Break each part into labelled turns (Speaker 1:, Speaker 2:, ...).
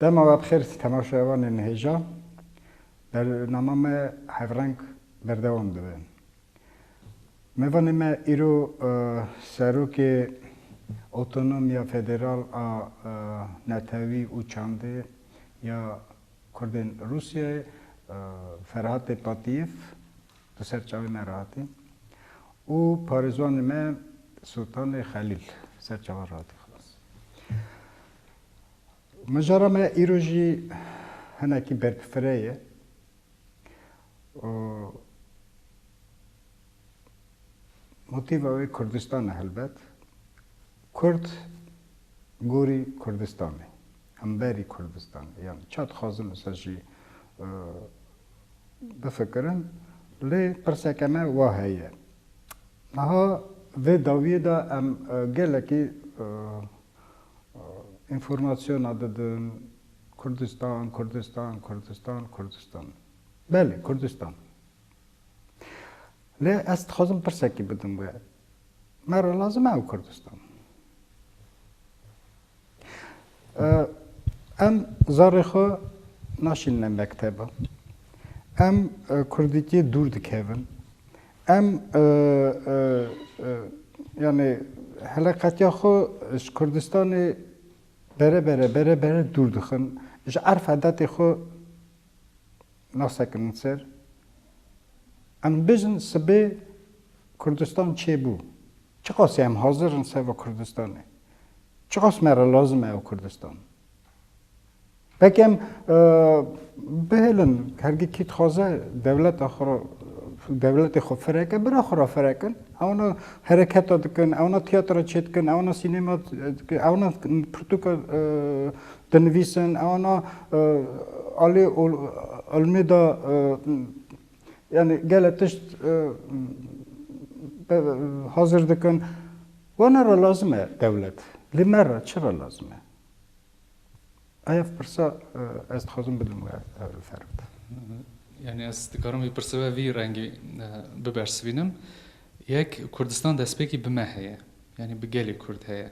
Speaker 1: Dema we bi xêr temaşeya wan ên hêja bernama me Hevreng berdewam dibe. Mêvanê me îro Serokê Otonomiya Federal a Netewî û Çandê ya Kurdên Rûsyayê Ferhatê Patîyev di ser çavê me re hatî û parêzwanê me Sultanê Xelîl di ser çavan re hatî xilas. Mijara me îro jî hinekî berpfire ye û motîva wê Kurdistan e helbet. Kurd gorî Kurdistanê, hemberî Kurdistanê. Yanî ça dixwazin li ser jî bifikirin. Lê pirseke me wa heye. Niha vê dawiyê de em gelekî Înformasyona didin, Kurdistan, Kurdistan, Kurdistan, Kurdistan. Belê, Kurdistan. Lê ez dixwazim pirsekî bidim wê. Me re lazim e ew Kurdistan. Em zarê xwe naşînine mekteba. Em kurdîkê dûr dikevin. Em yanî heleqetiya xwe ji Kurdistanê bere bere bere bere dûr dixin. Ji erf edetê xwe nasekinin ser. Em bijin sibê Kurdistan çê bû. Çiqasî em hazir in seva Kurdistanê. Çiqas me re lazim e ew Kurdistan. Belkî em bihêlin hergî kî dixwaze dewleta xwe dewletê xwe fireke bira xwe re firekin ewna hereketa dikin ewna tiyatra çê dikin ewna sînema dikin ewna pirtûka dinivîsin ewna alê ilmê da yani gele tişt hazir dikin wana re lazim e dewlet lê me re çi re lazim e Ev pirsa ez dixwazim bidim we li ser bide. Yanî
Speaker 2: ez dikarim vî pirsa ve vî rengî bibersivînim. Yek, Kurdistan destpêkî bi me heye. Yanî bi gelê Kurd heye.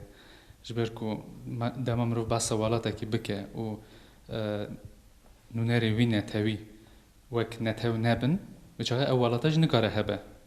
Speaker 2: Ji ber ku dema mirov behsa welatekî bike û nûnerê wî netewî wek netew nebin, bi çaxê ew welata jî nikare hebe.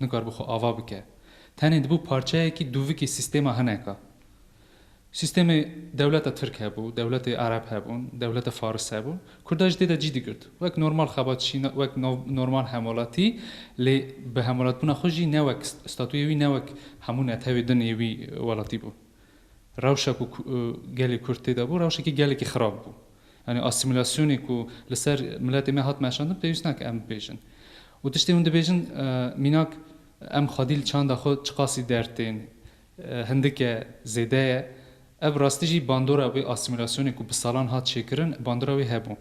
Speaker 2: Nikaribo xwe ava bike. Tenê dibû parçeyekî dûvikî sîstêma hineka. Sîstêmê dewleta tirk hebû, dewletê ereb hebûn, dewleta faris hebû. Kurda jî tê de cî digirt. Wek normal xebat jî, wek normal hemwelatî lê bi hemwelatbûna xwe jî ne wek statuyê wî ne wek hemû netewê din ê wî welatî bû. Rewşa ku gelê kurd tê de bû rewşekî gelekî xirab bû. Yanî asîmîlasyonê ku li ser miletê me hat meşandin pêwîst nake em bibêjin. Û tiştê hûn dibêjin mînak em xwedî li çanda xwe çiqasî der tên, hindik e, zêde ye. Ev rastî jî bandora wê asîmîlasyonê ku bi salan hat çêkirin, bandora wê hebû.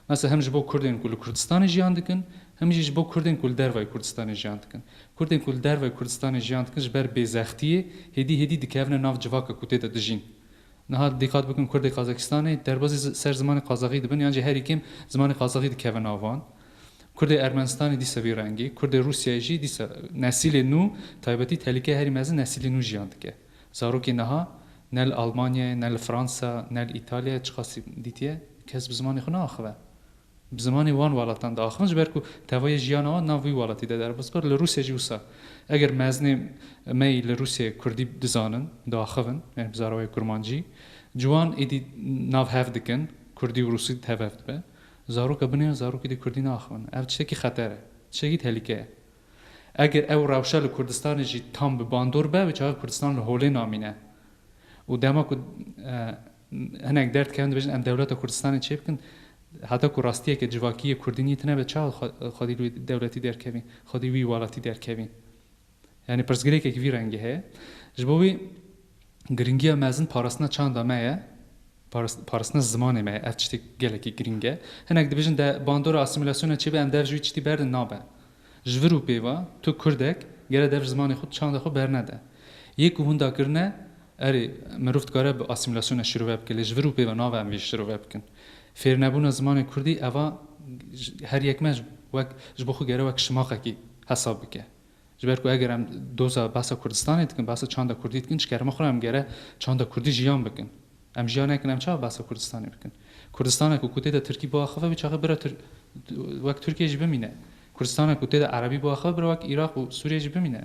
Speaker 2: Mesela hem ji bo Kurdên ku li Kurdistanê jiyan dikin, hem jî ji bo Kurdên ku li dervayê Kurdistanê jiyan dikin. Kurdên ku li dervayê Kurdistanê jiyan dikin ji ber bêzextiyê hêdî hêdî dikevine nav civaka ku tê de dijîn. Niha dîqat bikin Kurdê Qazakistanê derbasî ser zimanê Qazaxî dibin yan jî herî kêm zimanê Qazaxî dikeve nav wan. Kurdê Ermenistanê dîsa vî rengî, Kurdê Rûsyayê jî dîsa nesîlê nû taybetî tehlîkeyê herî mezin nesîlê nû jiyan dike. Zarokê niha ne li Almanyayê, ne li Fransa, ne li Îtalyayê çiqas dîtiye kes bi zimanê xwe naaxive. Bi zimanê wan welatan diaxivin ji ber ku tevayê jiyana wan nav wî welatî de derbas bikir. Li Rûsyê jî wisa eger mezinê me yî li Rûsyê kurdî dizanin, diaxivin yanî bi zarewayê kurmancî ji wan êdî nav hev dikin, kurdî û rûsî tev hev dibe. Zaroka binê ya zarokê dî kurdî naaxivin. Ev tiştekî xeter e. Tiştekî tehlîke ye. Eger ew rewşa li Kurdistanê jî tam bi bandor be wê çaxê Kurdistan li holê namîne û dema ku Hinek derd dikevin dibêjin em dewleta Kurdistanê çê bikin. Heta ku rastiyeke civakî yê Kurdî nî tine be çawa xwedî li wî dewletî derkevî, xwedî wî welatî derkevî? Yanî pirsgirêkek vî rengî heye. Ji bo wî girîngiya mezin parastina çanda me ye, parastina zimanê me ye. Ev tiştê gelekî girîng e. Hinek dibêjin de bandora asîmîlasyona çê be em dev ji wî tiştî berdin nabe. Ji vir û pêva tu Kurdek gere dev zimanê xwe çanda xwe bernede. Yê ku hûn dakirine Erê, mirov dikare bi asîmîlasyonê şirove bike lê ji vir û pê ve nave em vê şirove bikin. Fêrnebûna zimanê kurdî eva her yek me wek ji bo xwe gere wek şimaqekî hesab bike. Ji ber ku eger em doza behsa Kurdistanê dikin, behsa çanda kurdî dikin ji kerema xwe re em gere çanda kurdî jiyan bikin. Em jiyan nekin em çawa behsa Kurdistanê bikin? Kurdistaneke ku tê de tirkî biaxive wê çaxê bira wek Tirkiyê jî bimîne. Kurdistaneke ku tê de erebî biaxive bira wek Iraq û Sûriyê jî bimîne.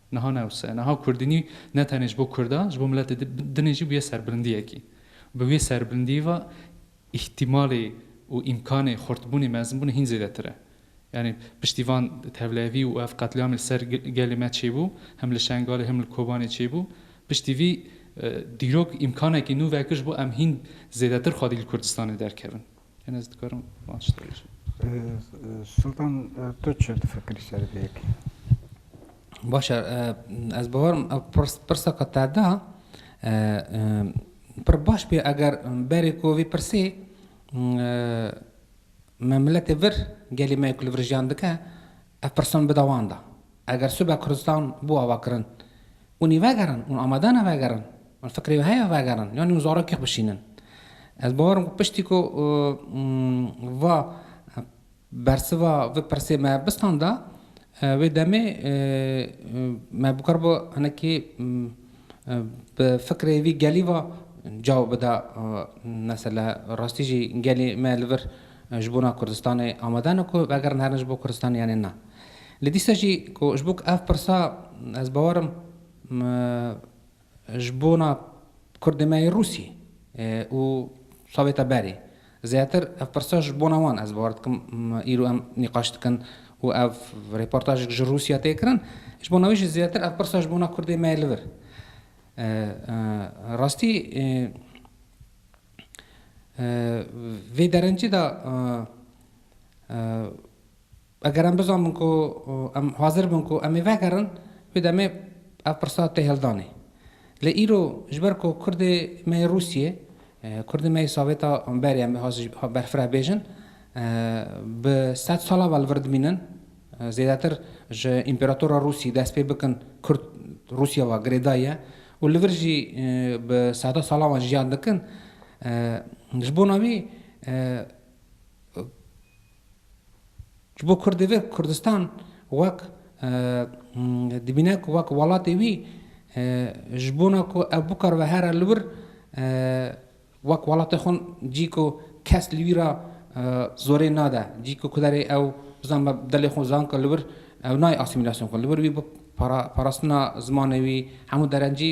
Speaker 2: Niha ne wisa ye. Niha kurdînî ne tenê ji bo kurdan, ji bo miletê din ê jî bûye serbilindiyekî. Bi vê serbilindiyî ve îhtîmalê û îmkanê xurtbûnê, mezinbûnê hîn zêdetir e. Yanî piştî van tevlevî û ev qetlîamê li ser gelê me çêbû, hem li Şengalê hem li Kobanê çêbû, piştî vî dîrok îmkanekî nû vekir ji bo em hîn zêdetir xwedî li Kurdistanê derkevin. Hin ez dikarim van şitê bijim.
Speaker 1: Sultan tu çi difikirî ser vê yekê?
Speaker 3: Baş e, ez bawerim pirsa qe te da pir baş bê eger berê ku vî pirsê me miletê vir gelê me ku li vir jiyan dike ev pirsan bida wan da. Eger sibe Kurdistan bû avakirin Hûn ê vegerin, hûn amade ne vegerin, hûn fikrê wê heye vegerin yanî hûn zarokêx bişînin. Ez bawer im ku piştî ku va bersiva vê pirsê me bistanda, wê demê me bikaribû hinekî bi fikrê vî gelî va cawab bida, mesela rastî jî gelê me li vir ji bo na Kurdistanê amade ne ku vegerin herin ji bo Kurdistanê yanê na. Lê dîsa jî ku ji bo ku ev pirsa ez bawer im ji bo na Kurdê me yê Rûsî û Sovêta berê zêdetir ev pirsa ji bo na wan ez bawer dikim îro em nîqaş dikin û ev rêportajek ji Rûsya tê kirin ji bo na wê jî zêdetir ev pirsa ji bo na Kurdê me yê li vir rastî Vê derencê de eger em bizanin ku em hazir bin ku em ê vegerin, wê demê ev pirsa tê hildanê. Lê îro ji ber ku Kurdê me yê Rûsiyê, Kurdê me yê Sovêta berê em ê berfireh bêjin, bi sed sal ava li vir dimînin, Zêdetir ji Împeratora Rûsî dest pê bikin Kurd Rûsya ve girêdayî ye û li vir jî bi seta salan ve jiyan dikin. Ji bona wî ji bo Kurdê vir Kurdistan wek dibîne ku wek welatê wî ji bona ku ev bikaribe here li wir Wek welatê xwe cî ku kes li wî re zorê nade, cî ku kuderê ew bizan be delê xwe zanka li wir ew nayê asîmîlasyon kir. Li wir wî bi parastina zimanê wî hemû derencî,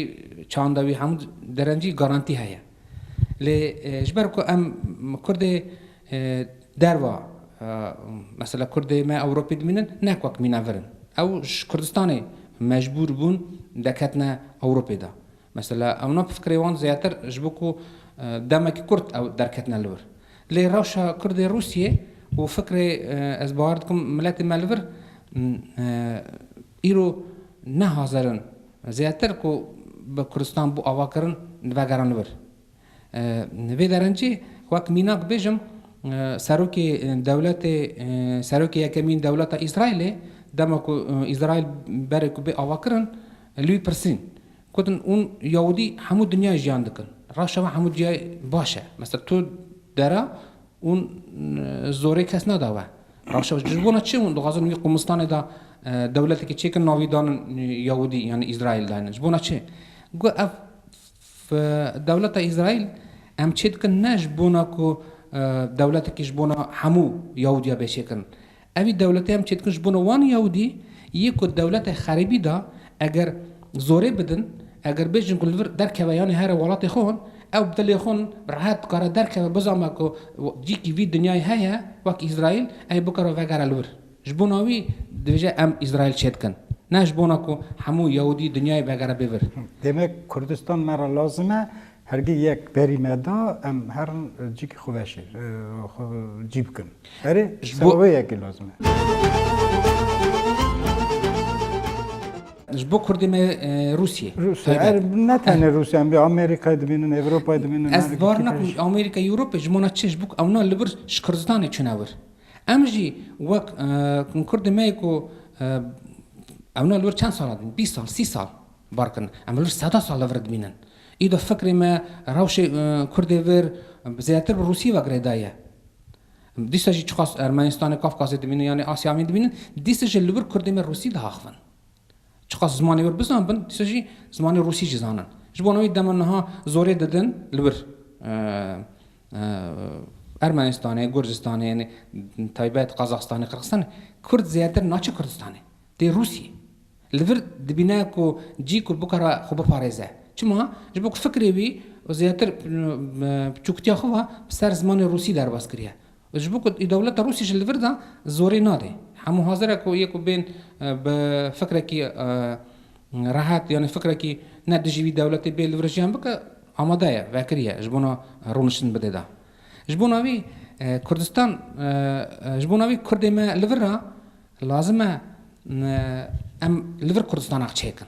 Speaker 3: çanda wî hemû derencî garantî heye. Lê ji ber ku em kurdê derva mesela kurdê me Ewropê dimînin nek wek mîna vir in. Ew ji Kurdistanê mecbûr bûn de ketine Ewropê de. Mesela ewna bi fikrê wan zêdetir ji bo ku demekî kurt ew derketine li vir. Lê rewşa kurdê Rûsyê û fikrê ez bawer dikim miletê me li vir îro ne hazir in zêdetir ku bi Kurdistan bo avakirin vegerin li vir. Li vê derencê wek mînak bêjim serokê dewletê serokê yekemîn dewleta Îsraîlê dema ku Îsraîl berê ku bê avakirin li wî pirsîn gotin hûn yewdî hemû dinyayê jiyan dikin reşa me hemû ciyayê baş e mesela tu dera hûn zorê kes nada we reşa ji bona çi hûn dixwazin wî qûmistanê de dewletekî çêkin navî danin yewdî yanî Îsraîl dayne ji bona çi got ev Bi dewleta Îsraîl em çê dikin ne ji bona ku dewletekî ji bona hemû Yahûdiya bê çêkirin. Evî dewletê em çê dikin ji bona wan Yahûdî yê ku dewletê xerîbî da eger zorê bidin, eger bêjin ku li vir derkeve yanî here welatê xwe hon, ew bi dilê xwe rehet dikare derkeve bizanbe ku cîkî vî dinyayê heye wek Îsraîl, evî bikare vegere li vir. Ji bona wî dibêje em Îsraîl çê dikin. Ne ji bona ku hemû Yewûdî dinyayê vegere bê vir. Demek Kurdistan
Speaker 1: me re lazim e. Hergî yek berî neda em herin cîkî xwe veşê xwe cî bikin. Erê seba wê yekê lazim e.
Speaker 3: Ji bo Kurdê me Rûsyê. Rûsyê er
Speaker 1: ne tenê Rûsyê em Amerîkayê dibînin, Ewropayê dibînin. Ez bar nakim
Speaker 3: Amerîka Ewropê ji bona çi? Ji bo ku ewna li vir ji Kurdistanê çûne wir. Em jî wek kurdên me yê ku ewna li wir çend sal dibînin, bîst sal, sî sal bar kirin. Em li wir seda sal li vir dibînin. Îdo fikrê me rewşê kurdê vir zêdetir bi Rûsî ve girêdayî ye. Dîsa jî çiqas Ermenistanê, Kafkasê dibînin yanî Asya Amîn dibînin, dîsa jî li wir kurdê me Rûsî diaxivin. Çiqas zimanê wir bizanbin, dîsa jî zimanê rûsî jî zanin. Ji bona wî dema niha zorê didin li wir. Ermenistanê, Gurcistanê yanî taybet Qazaxistanê, Qirxistanê kurd zêdetir naçe Kurdistanê, tê Rûsiyê. Li vir dibîne ku cî ku bikare xwe biparêze. Çima? Ji bo ku fikrê wî zêdetir bi çûktiya xwe ve bi ser zimanê rûsî derbas kiriye. Ji bo ku dewleta Rûsî ji li vir de zorê nade. Hemû hazir e ku yê ku bên bi fikrekî rehet yanî fikrekî ne dijî wî dewletê bê li vir jiyan bike amade ye, vekirî ye ji bona rûniştin bide da. Ji bona wî Kurdistan ji bona wî Kurdê me li vir e lazim e em li vir Kurdistanak çêkin.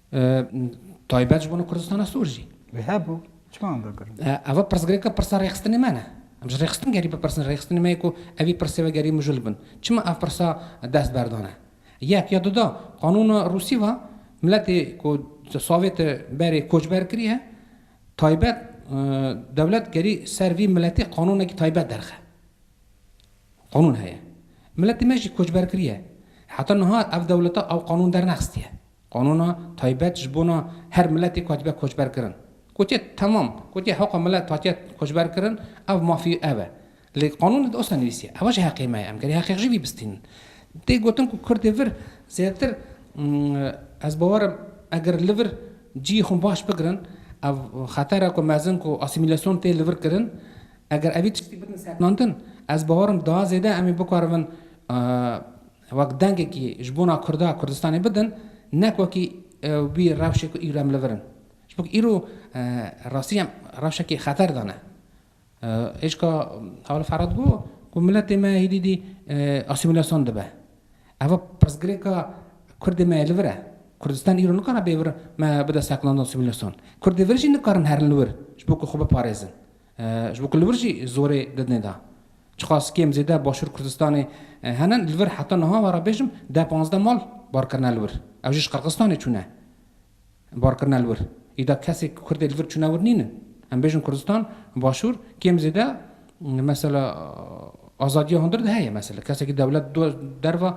Speaker 3: Taybet ji bo Kurdistana Sor jî. Wê hebû,
Speaker 1: çima em vegirin? Eva pirsgirêka pirsa
Speaker 3: rêxistinê me ne. Em ji rêxistin gerî bipirsin, rêxistinê me yê ku evî pirsê ve gerî mijûl bin. Çima ev pirsa dest berdane? Yek ya duda, qanûna Rûsî va, miletê ku savê te berê koçber kiriye, taybet dewlet gerî ser vî miletê qanûnekî taybet derxe. Qanûn heye. Miletê me jî koçber kiriye. Heta niha ev dewleta ew qanûn dernexistiye. Qanûna taybet ji bona her miletêk hatibe koçberkirin. Gotiye temam, gotiye heqa milet hatiye koçberkirin, ev mafî ev e. Lê qanûnê de osa nivîsiye, ew ji heqê me ye, em gerê heqê xwe jî vî bistînin. Tê gotin ku kurdê vir zêdetir ez bawer im eger li vir ciyê xwe baş bigirin, ev xeter e ku mezin ku asîmîlasyon tê li vir kirin, eger evî tiştî bikin sekinandin, ez bawer im daha zêde em ê bikarin wek dengekî ji bona Kurda Kurdistanê bidin nek wekî wî rewşê ku îro em li vir in. Ji bo ku îro rastî em rewşekî xeter de ne. Êşka Hawil Ferhat got ku miletê me hîdî dî asîmîlasyon dibe. Eva pirsgirêka Kurdê me yê li vir e. Kurdistan îro nikare bê vir me bide seknanda asîmîlasyon. Kurdê vir jî nikarin herin li wir ji bo ku xwe biparêzin. Ji bo ku li vir jî zorê didine da. Çiqas kêm zêde Başûr Kurdistanê hene li vir heta niha were bêjim deh panzdeh mal bar kirine li wir. Ew jî ji Qirgistanê çûne bar kirine li wir. Îda kesê ku Kurdê li vir çûne wir nîn in. Em bêjin Kurdistan û Başûr kêm zêde mesela azadiya hundir de heye. Mesela kesekî dewlet di derve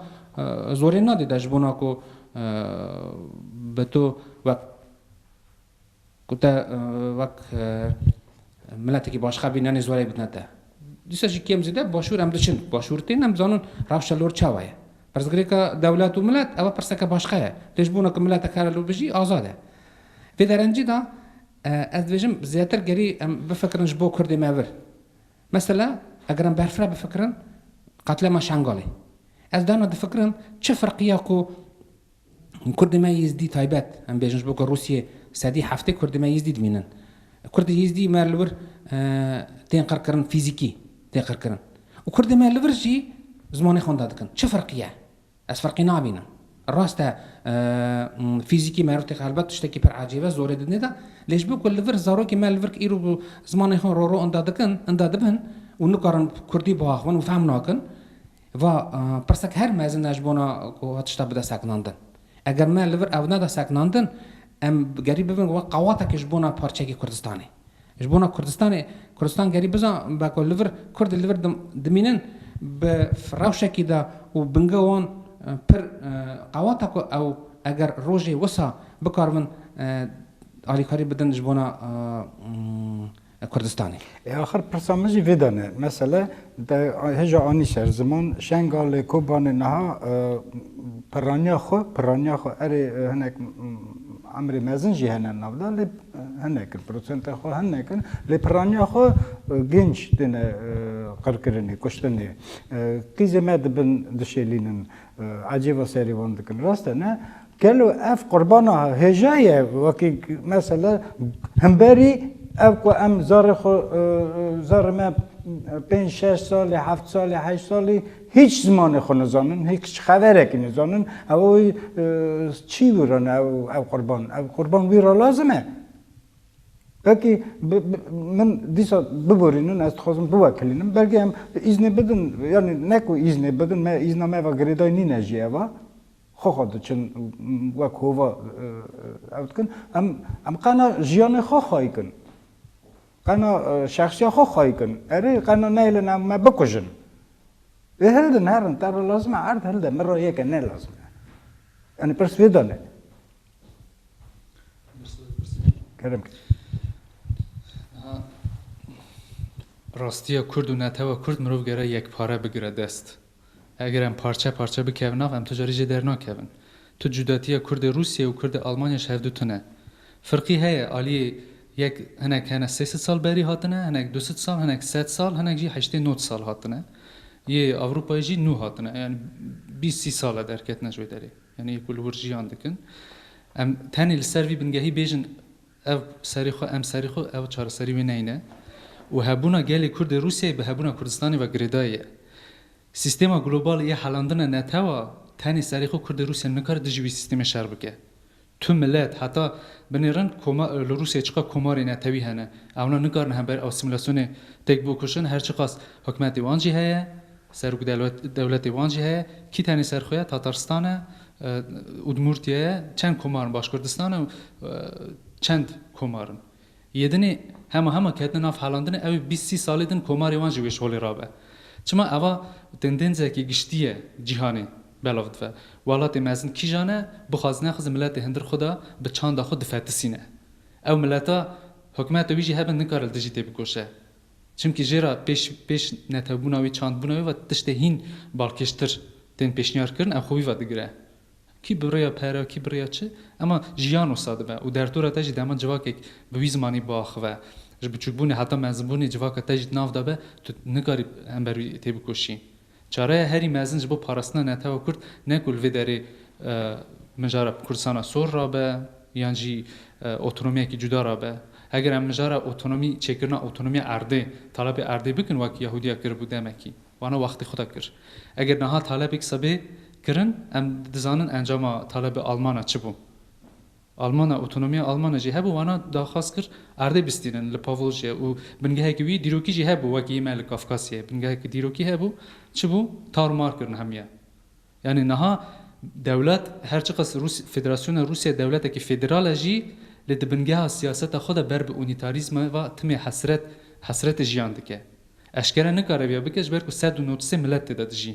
Speaker 3: zorê nadê da ji bona ku bi to wek Ku te wek miletekî başxebî nanê zoreyê bidine te. Dîsa jî kêm zêde başûr em diçin. Başûr tên em dizanin rewşa lor çawa ye. Pirsgirêka dewlet û milet ew e pirseke başqa ye. Lê ji bona ku miletek here li bijî azad e. Vê derencî de ez dibêjim zêdetir gerî em bifikirin ji bo kurdê me vir. Mesela eger em berfireh bifikirin qatlema Şengalê. Ez dana difikirim çi firq ya ku Hûn kurdê me Yîzdî taybet, em bêjin ji bo ku Rûsyê sedî heftê kurdê me Yîzdî dimînin. Kurdê Yîzdî me li wir tên qirkirin, fîzîkî tên qirkirin û kurdê me li vir jî zimanê xwe wenda dikin. Çi ferqî ye? Ez ferqî nabînim. Rast e fîzîkî me rûtî helbet tiştekî pir ecêb e, zorê didnê de lê ji bo ku li vir zarokên me li vir îro bi zimanê xwe roro wenda dikin, wenda dibin û nikarin kurdî biaxivin û fehm nakin, Va, Pirsek her mezin e ji bona ku tişta bide sekinandin. Eger me li vir ew neda sekinandin, em gerî bibin wek qewatekî ji bona parçeyekî Kurdistanê. Ji bona Kurdistanê, Kurdistan gerî biza be ku li vir Kurd li vir dimînin bi rewşekî de û binge wan pir qewat e ku ew eger rojê wisa bikaribin alîkarî bidin ji bona Kurdistanê. Ê axir pirsa min
Speaker 1: jî vê de ne. Mesele te hêja anî ser ziman Şengalê, Kobanê niha pirraniya xwe, pirraniya xwe erê hinek emrê mezin jî hene nav de lê hinek in, prosenta xwe hinek in lê pirraniya xwe gênc têne qirkirinê, kuştinê. Qîzê me dibin dişêlînin, ecêba serê wan dikin. Rast e ne? Gelo ev qurbana hêja ye wekî mesela himberî ev ku em zarê xwe zarê me pênc şeş salî heft salî heşt salî hîç zimanê xwe nizanin hîç xeverekî nizanin ew wî çî wî re ne ew qurban ew qurban wî re lazim e wekî min dîsa biborînin ez dixwazim biwekilînim belkî em îznê bidin yanî ne ku îznê bidin me îzna me ve girêdayî nîne jî eva. Xwe xwe diçin wek hova ew dikin. Em em qena jiyanê xwe xwe dikin. Qena şexsiya xwe xwe dikin. Erê qena neyêlin em me bikujin. Ê hildin herin te re lazim e erd hilde min re yeke ne lazim e. Yanî pirs vê de ne. Kerem.
Speaker 2: Rastiya Kurd û netewa Kurd mirov gere yekpare bigire dest. Eger em parçe parçe bikevin av, em tu carî jê dernakevin. Tu cudatiya Kurdê Rûsyê û Kurdê Almanyayê ji hevdu tune. Firqî heye, aliyê yek hinek hene sê sed sal berî hatine, hinek du sed sal, hinek sed sal, hinek jî heştê nod sal hatine. Yê Ewropayê jî nû hatine. Yanî bîst sî sal e derketine ji wê derê. Yanî yê ku li wir jiyan dikin. Em tenê li ser vî bingehî bêjin Ev serî xwe, em serî xwe, ew çareserî wê neyne û hebûna gelê Kurd ê Rûsyayê bi hebûna Kurdistanê ve girêdayî ye. Sîstêma global yê helandina netewa tenê serî xwe Kurd ê Rûsyayê nikare dijî wî sîstêmê şer bike. Tu milet, heta binêrin koma li Rûsyayê çiqas komarê netewî hene, ewna nikarin hember asîmîlasyonê têk biûkuşin, her çiqas hikûmetê wan jî heye, Serok dewletê wan jî heye, kî tenê ser xwe ye, Tataristan e, Udmurtiye ye, çend komar in, Başkurdistan e û çend komar in. Yê din ê hema hema ketine nav helandinê, ew ê bîst sî salê din komarê wan jî wê ji holê rabe. Çima eva tendênzeke giştî ye cîhanê belav dive. Welatê mezin kîjan e, bixwaz nexwaz miletê hundir xwe da bi çanda xwe difetisîne. Ew mileta hikûmeta wî jî hebe nikare li dijî tê bikoşe. Çimkî jê re pêş pêş netewbûna wî, çandbûna wî ve tiştê hîn balkêştir tên pêşniyar kirin ew xwe wî ve digire. Kî bi rêya pere, kî bi rêya çi ema jiyan wisa dibe û derdora te jî dema civakek bi wî zimanî biaxive. Ji biçûkbûnê heta mezin bûnê civaka te jî di nav de be, tu nikarî hember wî têbikoşî. Çareya herî mezin ji bo parastina netewa Kurd ne ku li vê derê mijara Kurdistana sor rabe yan jî otonomiyekî cuda rabe. Heger em mijara otonomî çêkirina otonomiya erdê, talebê erdê bikin wek Yahudiya kiribû demekî, wana wextê xwe de kir. Eger niha talebê kisa bê kirin, em dizanin encama talebê Almana çi bû. Almana, Otonomiya Almana jî hebû wana daxwaz kir erdê bistînin li Pawlojê û bingehekî wî dîrokî jî hebû wek yê me li Kafkasyayê bingehekî dîrokî hebû çi bû tar û mar kirin hemiye yanî niha dewlet her çiqas Rûs Federasyona Rûsya dewletekî federal e jî lê di bingeha siyaseta xwe de ber bi unîtarîzma ve timê hesret hesretê jiyan dike eşkere nikare vîya bike ji ber ku sed û nod sê milet tê de dijî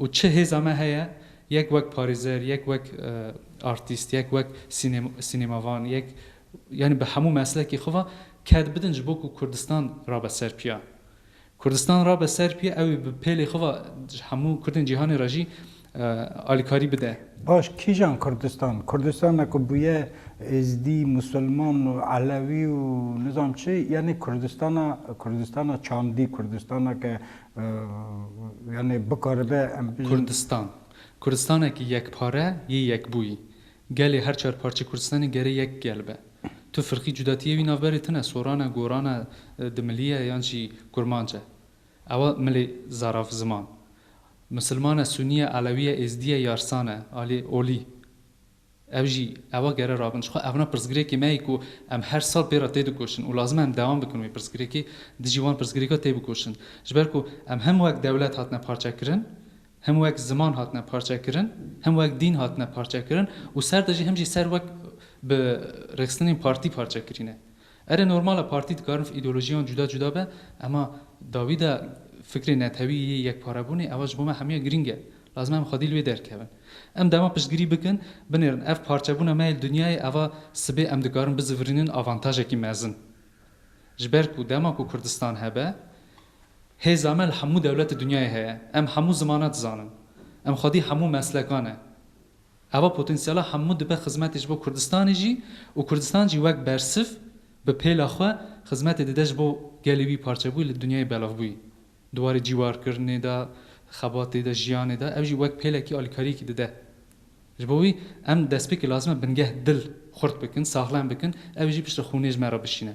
Speaker 2: Û çi hêza me heye, yek wek parêzer, yek wek artîst, yek wek sînêmavan, yek yanî bi hemû meslekê xwe ve ket bidin ji bo ku Kurdistan rabe ser piya. Kurdistan rabe ser piya, ew ê bi pêlê xwe ve ji hemû Kurdên cîhanê re jî alîkarî bide. Baş kîjan
Speaker 1: Kurdistan? Kurdistana ku bûye Êzdî, Musulman û Elewî û nizam çi, yanî Kurdistana Kurdistana çandî, Kurdistana ke Yanî bikaribe em bî. Kurdistan.
Speaker 2: Kurdistanekî yekpare yê yekbûyî. Gelê her çar parçe Kurdistanê gerê yek gel be. Tu firqî cudatîyê wî navberê tune, soran e, goran e, dimilî ye yan jî kurmanc e. Ewa milê zaraf ziman. Misilman e, sunî ye, elewî ye, êzdî ye, yarsan e, alî, olî. Ev jî ewa gere rabin. Jixwe evna pirsgirêkê me ye ku em her sal pê re têdikoşin û lazim e em dewam bikin wê pirsgirêkê dijî wan pirsgirêka têbikoşin. Ji ber ku em hem wek dewlet hatine parçekirin, hem wek ziman hatine parçekirin, hem wek dîn hatine parçekirin û ser de jî hem jî ser wek bi rêxistinên partî parçekirî ne. Ere normal e partî dikarin îdeolojiyan cuda cuda be ema dawî de fikrê netewî yê yekparebûnê ewa ji bo me hemûyan girîng e. Lazim e em xwedî li wê derkevin. Em dema piştgirî bikin, binêrin ev parçebûna me yê li dinyayê eva sibê em dikarin bizivirînin avantajekî mezin. Ji ber ku dema ku Kurdistan hebe, hêza me li hemû dewletê dinyayê heye. Em hemû zimana dizanin. Em xwedî hemû meslekan e. Ava potansyala hemû dibe xizmetê ji bo Kurdistanê jî û Kurdistan jî wek bersiv bi pêla xwe xizmetê dide ji bo gelê wî parçebûyî li dinyayê belavbûyî di warê cîwarkirinê de, xebatê de, jiyanê de ew jî wek pêlekî alîkariyekî dide. Ji bo wî em destpêkê lazim e bingeh dil xurt bikin, saxlem bikin, ew jî piştre xûnê ji me re bişîne.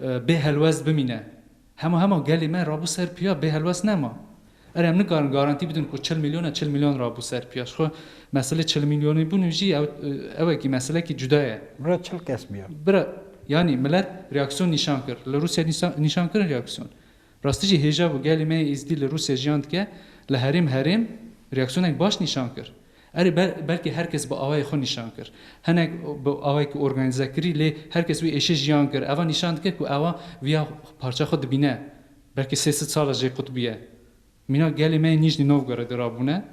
Speaker 2: Bê helwest bimîne. Hema hema gelê me rabû ser piya bê helwest nema. Erê em nikarin garantî bidin ku çil mîlyon e çil mîlyon rabû ser piya. Ji xwe meselê çil mîlyonî bûn jî ew ew ekî meselekî cuda ye. Bira çil kes biya.
Speaker 1: Bira yanî
Speaker 2: milet reaksîyon nîşan kir. Li Rûsyayê nîşan kirin reaksîyon. Rastî jî hêja bû gelê me yê Êzidî li Rûsya jiyan dike, li herêm herêm reaksiyonek baş nîşan kir. Erê belkî her kes bi awayê xwe nîşan kir. Hinek bi awayekî organîze kirî lê her kes wî êşe jiyan kir. Eva nîşan dike ku ewa viya parça xwe dibîne. Belkî sê sid sal e jê qutbîye. Mîna gelê me yê Nîjnî Novgorodê rabûne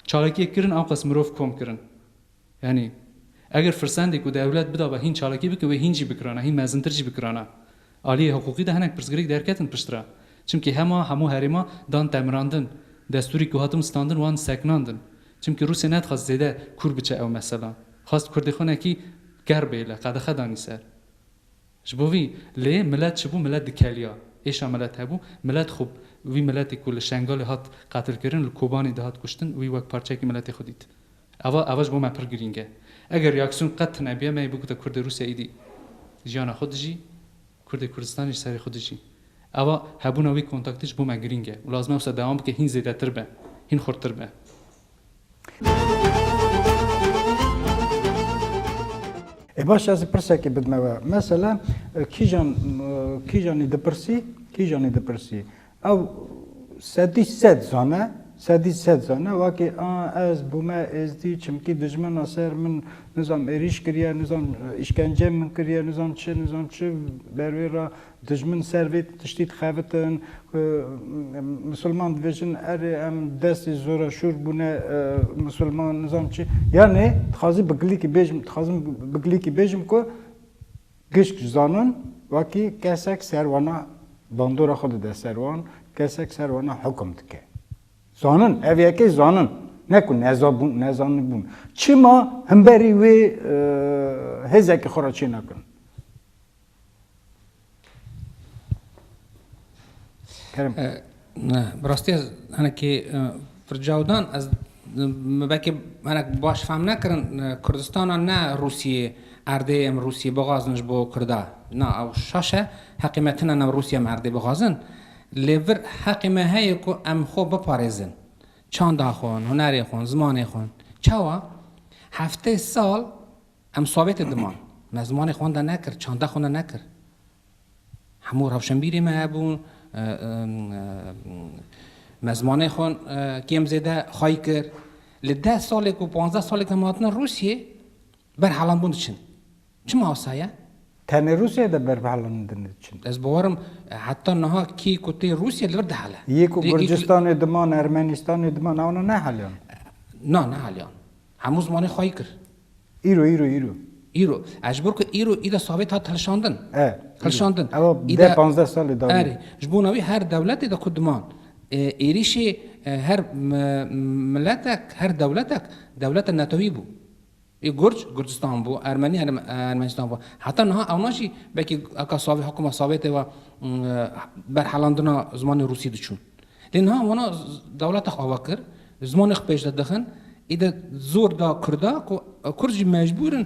Speaker 2: çalakiyek kirin awqas mirov kom kirin. Yanî eger firsendê ku dewlet bidabe hîn çalakî bike wê hîn jî bikirana, hîn mezintir jî bikirana. Aliyê hiqûqî de hinek pirsgirêk derketin pişt re. Çimkî hema hemû herêma dan temirandin, destûrî ku hatin standin wan seknandin. Çimkî Rûsya nedixwest zêde kûr biçe ew mesela. Xwest kurdê xwe nekî gerr bêle, qedexe danî ser. Ji bo vî lê milet çi bû? Milet dikeliya. Êşa milet hebû. Milet xwe, wî miletê ku li Şengalê hat qetilkirin, li Kobanê dihat kuştin, wî wek parçeyekî miletê xwe dît. Eva eva ji bo me pir girîng e. Eger reaksiyon qet tune biya, me yê bigota kurdê Rûsya êdî jiyana xwe dijî, kurdê Kurdistanê ji serê xwe dijî. Eva hebûna wî kontaktê ji bo me girîng e û lazim e wisa dewam bike hîn zêdetir be, hîn xurttir be.
Speaker 1: E baş ez pirsekê bidme we. Mesela kîjan kîjanî dipirsî, kîjanî dipirsî. Ew sedî sed zane, sedî sed zane wakê a ez bûme êzdî çimkî dijmena ser min nizam êrîş kiriye, nizam îşkence min kiriye, nizam çi, nizam çi ber wê ra Dijmin ser vê tiştî dixebitin ku misilman dibêjin erê em destê zoreşûrbûne misilman nizam çi yanê dixwazî bi gilîkî bêjim dixwazim bi gilîkî bêjim ku gişt ji zanin wekî kesek ser wana bandora xwe dide ser wan kesek ser wana hukum dike. Zanin ev yekê zanin ne ku nezabûn nezanibûn çima himberî wê hêzekî xwe re çênekin. Kerim. Bi
Speaker 3: rastî ez hinekî fircawdan ez belkî hinek baş fehm nekirin Kurdistana ne Rûsiyê erdê em Rûsiyê bixwazin ji bo Kurda. Na ew şaş e heqê me tune em Rûsiyê em erdê bixwazin. Lê vir heqê me heye ku em xwe biparêzin. Çanda xwe, hunerê xwe, zimanê xwe. Çawa? Heftê sal Em sovetê diman. Me zimanê xwe wenda nekir, çanda xwe wenda nekir. Hemû rewşenbîrê me hebûn, me zimanê xwe kêm zêde xayî kir. Li deh salê ku panzdeh salê ku em hatine Rûsyê, berhelandbûn diçin. Çima wisa ye? Tenê Rûsyayê
Speaker 1: de berhelandin diçin. Ez bawer im
Speaker 3: heta niha kê ku tê Rûsyê li vir dihele. Yê ku Gurcistanê
Speaker 1: diman, Ermenîstanê diman, ewna neheliyan? Na, neheliyan.
Speaker 3: Hemû zimanê xwe xayî kir. Îro, îro, îro. Îro.
Speaker 1: E, ji bo ku îro îde
Speaker 3: Sawêt hat hilişandin. E, îro. Hilişandin. Ew
Speaker 1: deh, Îde, panzdeh sal li dawiyê. erê, ji bona wî her
Speaker 3: dewletê de ku diman, e, êrîşê e, her mi, miletek, her dewletek, dewleta netewî bû. Ê Gurc, Gurcistan bû, Ermenî, Erm, Ermenistan bû. Heta niha ewna jî belkî eka Sawê, hikûma Sawêtê ve, e, berhelandina zimanê Rûsî diçûn. Lê niha wana dewleta xwe ava kir, zimanê xwe pêş de dixin, îde zor da Kurda ku Kurd jî mecbûr in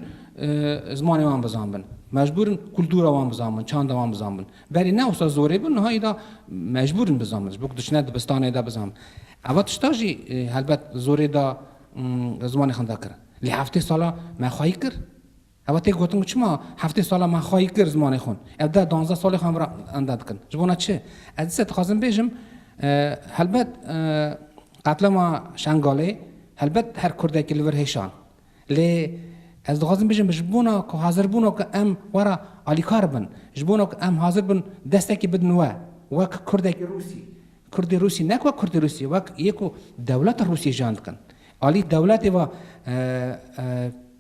Speaker 3: zimanê wan bizanbin, mecbûr in kultura wan bizanbin, çanda wan bizanbin. Berê ne wisa zorê bû, niha îda mecbûr in bizanbin, ji bo ku diçine dibistanê de bizanbin. Eva tişta jî helbet zorê da zimanê xwe da kirin. Lê heftê sala me xwayî kir, Ew tê gotin ku çima heftê sala me xwayî kir zimanê xwe, ew deh duanzdeh salê xwe em re enda dikin. Ji bona çi? Ez dîsa dixwazim bêjim, helbet qetlama Şengalê helbet her kurdekî li vir hêşan. Lê ez dixwazim bêjim ji bona ku hazirbûna ku em we re alîkar bin, ji bona ku em hazir bin destekî bidin we, wek kurdekî Rûsî, kurdê Rûsî ne wek kurdê Rûsî, wek yê ku dewleta Rûsî jiyan dikin, alî dewletê ve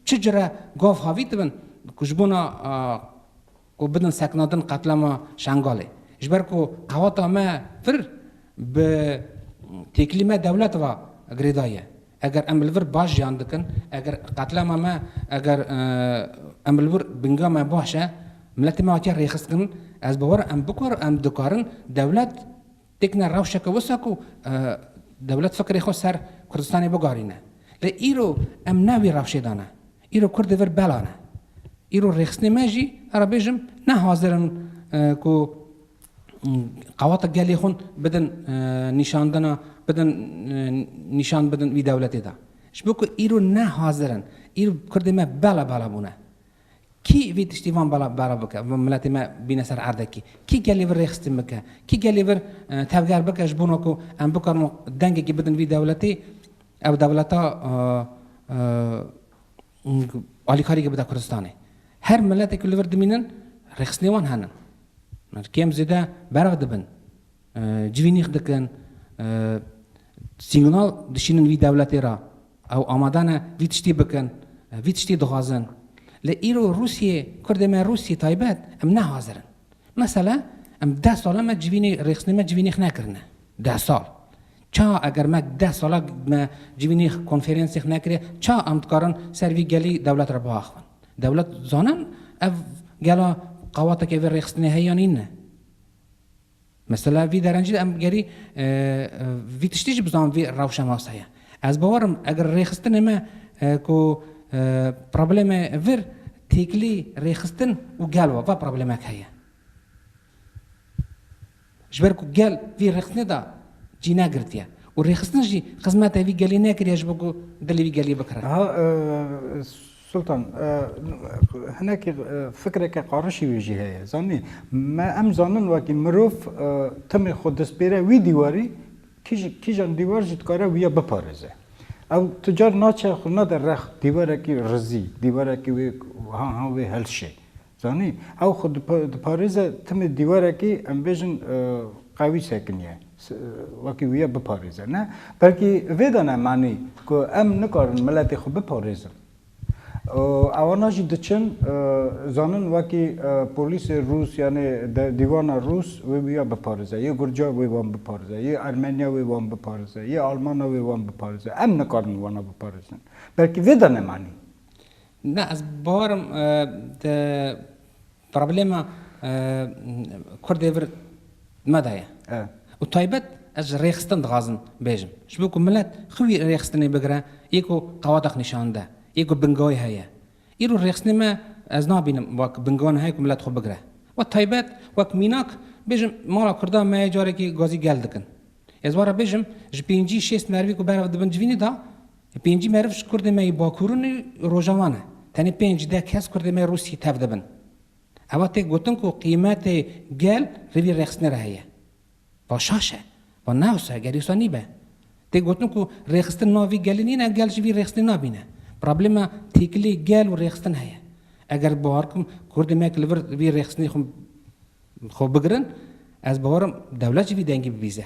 Speaker 3: Çi cure gav havî dibin ku ji bona ku bidin seknadin qetlama Şengalê. Ji ber ku qewata me pir bi têkilî me dewlet va girêdayî ye. Eger em li vir baş jiyan dikin, eger qetlama me eger em li vir binga me baş e, miletê me hatiye rêxiskin, ez bawer im em dikarin dewlet Dikine rewşeke wisa ku dewlet fikrê xwe ser Kurdistanê bigarîne. Lê îro em ne wî rewşê de ne. Îro Kurd li vir bela ne. Îro rêxistinê me jî ara bêjim ne hazir in ku qewata gelê xwe bidin nîşandina bidin nîşan bidin wî dewletê de. Ji bo ku îro ne hazir in. Îro Kurdê me bela bela bûne. Kî vî tiştî van bala bike, van miletê me bîne ser erdekî? Kî gelê vir rêxistin bike? Kî gelê vir tevger bike ji bona ku em bikarin dengekî bidin vî dewletê, ew dewleta alîkarî bide Kurdistanê? Her miletê ku li vir dimînin rêxistinê wan henin. Kêm zêde berx dibin, civînîx dikin, sîgnal dişînin vî dewletê re. Ew amade ne vî tiştî bikin, vî tiştî dixwazin. Lê îro Rûsyê, kurdê me Rûsyê taybet, em ne hazir in. Mesela em deh sala me civînê, rêxistinê me civînê xwe nekirine. Deh sal. Ça eger me deh sala me civînê konferensê xwe nekirê, ça em dikarin ser vî gelî dewlet re biaxivin? Dewlet zanin ev gela qawateke vê rêxistinê heye yan î ne. Mesela vî derencî de em gerî vî tiştî jî bi zan vî rewşa nas heye. Ez bawer im eger rêxistinê me ku problemê vir têkilî rêxistin û gel wa va problemek heye. Ji ber ku gel vî rêxistinê de cî negirtiye û rêxistin jî xizmete vî gelî nekiriye ji bo ku dilê vî gelî bikire. Niha
Speaker 1: Sultan, hinekî fikreke qarişî wî jî heye. Zanî, me em zanin wekî mirov timê xwe dispêre wî dîwarî, kîjan dîwar jî dikare wî ya biparêze. Ew tu car naçe xwe nade rex dîwarekî rizî, dîwarekî wê wiha ha wê heşê. Zanî, ew xwe diparêze timî dîwarekî em bêjin qewî sekinîye, wekî wîya biparêze. Ne, belkî vê de ne manî ku em nikarin miletê xwe biparêzin. Û ewana jî diçin zanin wekî polîsê rûs yanê dîwana rûs wê wîya biparêze, yê gurca wê wan biparêze, yê ermenya wê wan biparêze, yê almana wê wan biparêze. Em nikarin wana biparêzin. Belkî vê de ne manî. Na
Speaker 3: ez barim di problema Kurdê vir me de ye. Û taybet ez ji rêxistin dixwazim bêjim. Ji bo ku milet xwe wî rêxistinê bigire yê ku qawadex nîşan dide, yê ku bingehê heye. Îro rêxistinê me ez nabînim wek bingehan heye ku milet xwe bigire. Wek taybet, wek mînak bêjim mala Kurda me yê carekê gazî gel dikin. Ez were bêjim ji pêncî şêst merivî ku berev dibin civînê de Di pêncî meriv ji kurdên me yê bakurin û rojavan ne. Tenê pênc, deh kes kurdên me yê Rûsiyê tev dibin. Eva tê gotin ku qîmetê gel li vî rêxistinê re heye. Va şaş e. Va ne wisa e, gelî wisa nîbe. Tê gotin ku rêxistin nava vî gelî nîne, gel jî vî rêxistinê nabîne. Problema têkilî gel û rêxistin heye. Eger bawer bikim kurdên me li vir vî rêxistinê xwe xwe bigirin, ez bawer im dewlet jî vî dengî bibîze.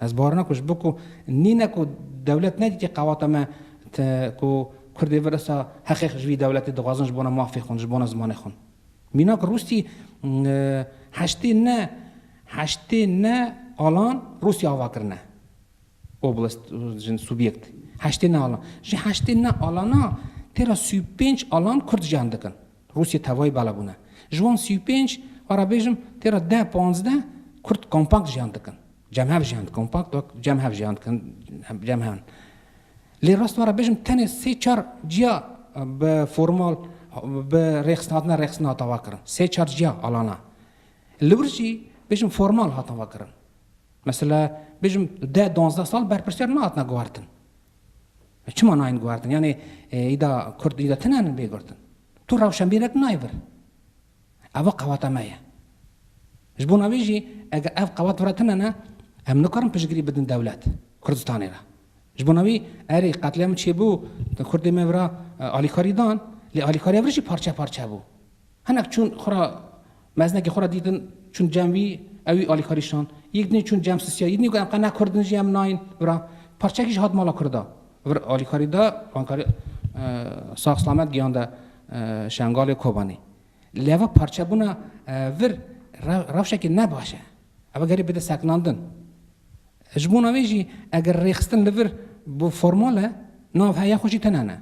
Speaker 3: Ez bawer nakim ji bo ku nîne ku dewlet nedîtî qewata me te ku Kurdê vir esta heqê xwe ji vî dewletê dixwazin ji bona mafê xwe ji bona zimanê xwe. Mînak Rûsî heştê ne heştê ne alan Rûsî ava kirine oblast jin subyekt heştê ne alan. Ji heştê ne alana têra sî û pênc alan Kurd jiyan dikin. Rûsyê tevayî bala bûne. Ji wan sî û pênc, va re bêjim tê re deh panzdeh Kurd kompakt jiyan dikin. Cemhev jiyan dikin. Kompakt wek cemhev jiyan dikin, cemhev. Lê rast va re bêjim tenê sê çar ciya bi formal bi rêxistina rêxistin hata va kirin. Sê çar ciya alana. Li wir jî bêjim formal hatin va kirin. Mesela bêjim deh donzdeh sal berpirsyar nehatine guhertin. Ev çima nayên guhertin? Yanî îda kurd îda tune ne bê girtin? Tu rewşenbîrek nayê vir. Eva qewata me ye. Ji bona wê jî eger ev qewat vira tune ne em nikarin piştgirî bidin dewlet Kurdistanê re. Ji bona wî erê qetlîamê çêbû kurdê me vira alîkarî dan lê alîkariya vir jî parçe parçe bû. Hinek çûn xwe ra meznekê xwe ra dîtin, çûn cem wî, ew wî alîkarî şand. Yîk dinê çûn cem sisiya, yî dinê got em qe ne kurd in jî em nayîn vira. Parçeyekî jî hat mala kurda. Vir alîkarî de bankarî sax silamet geyande Şengalê Kobanê. Lê va parçebûna vir rewşekê ne baş e. Ew gerî bide sekinandin. Ji bona wê jî eger rêxistin li vir bi formal e, nav heye xwe jî tune ne.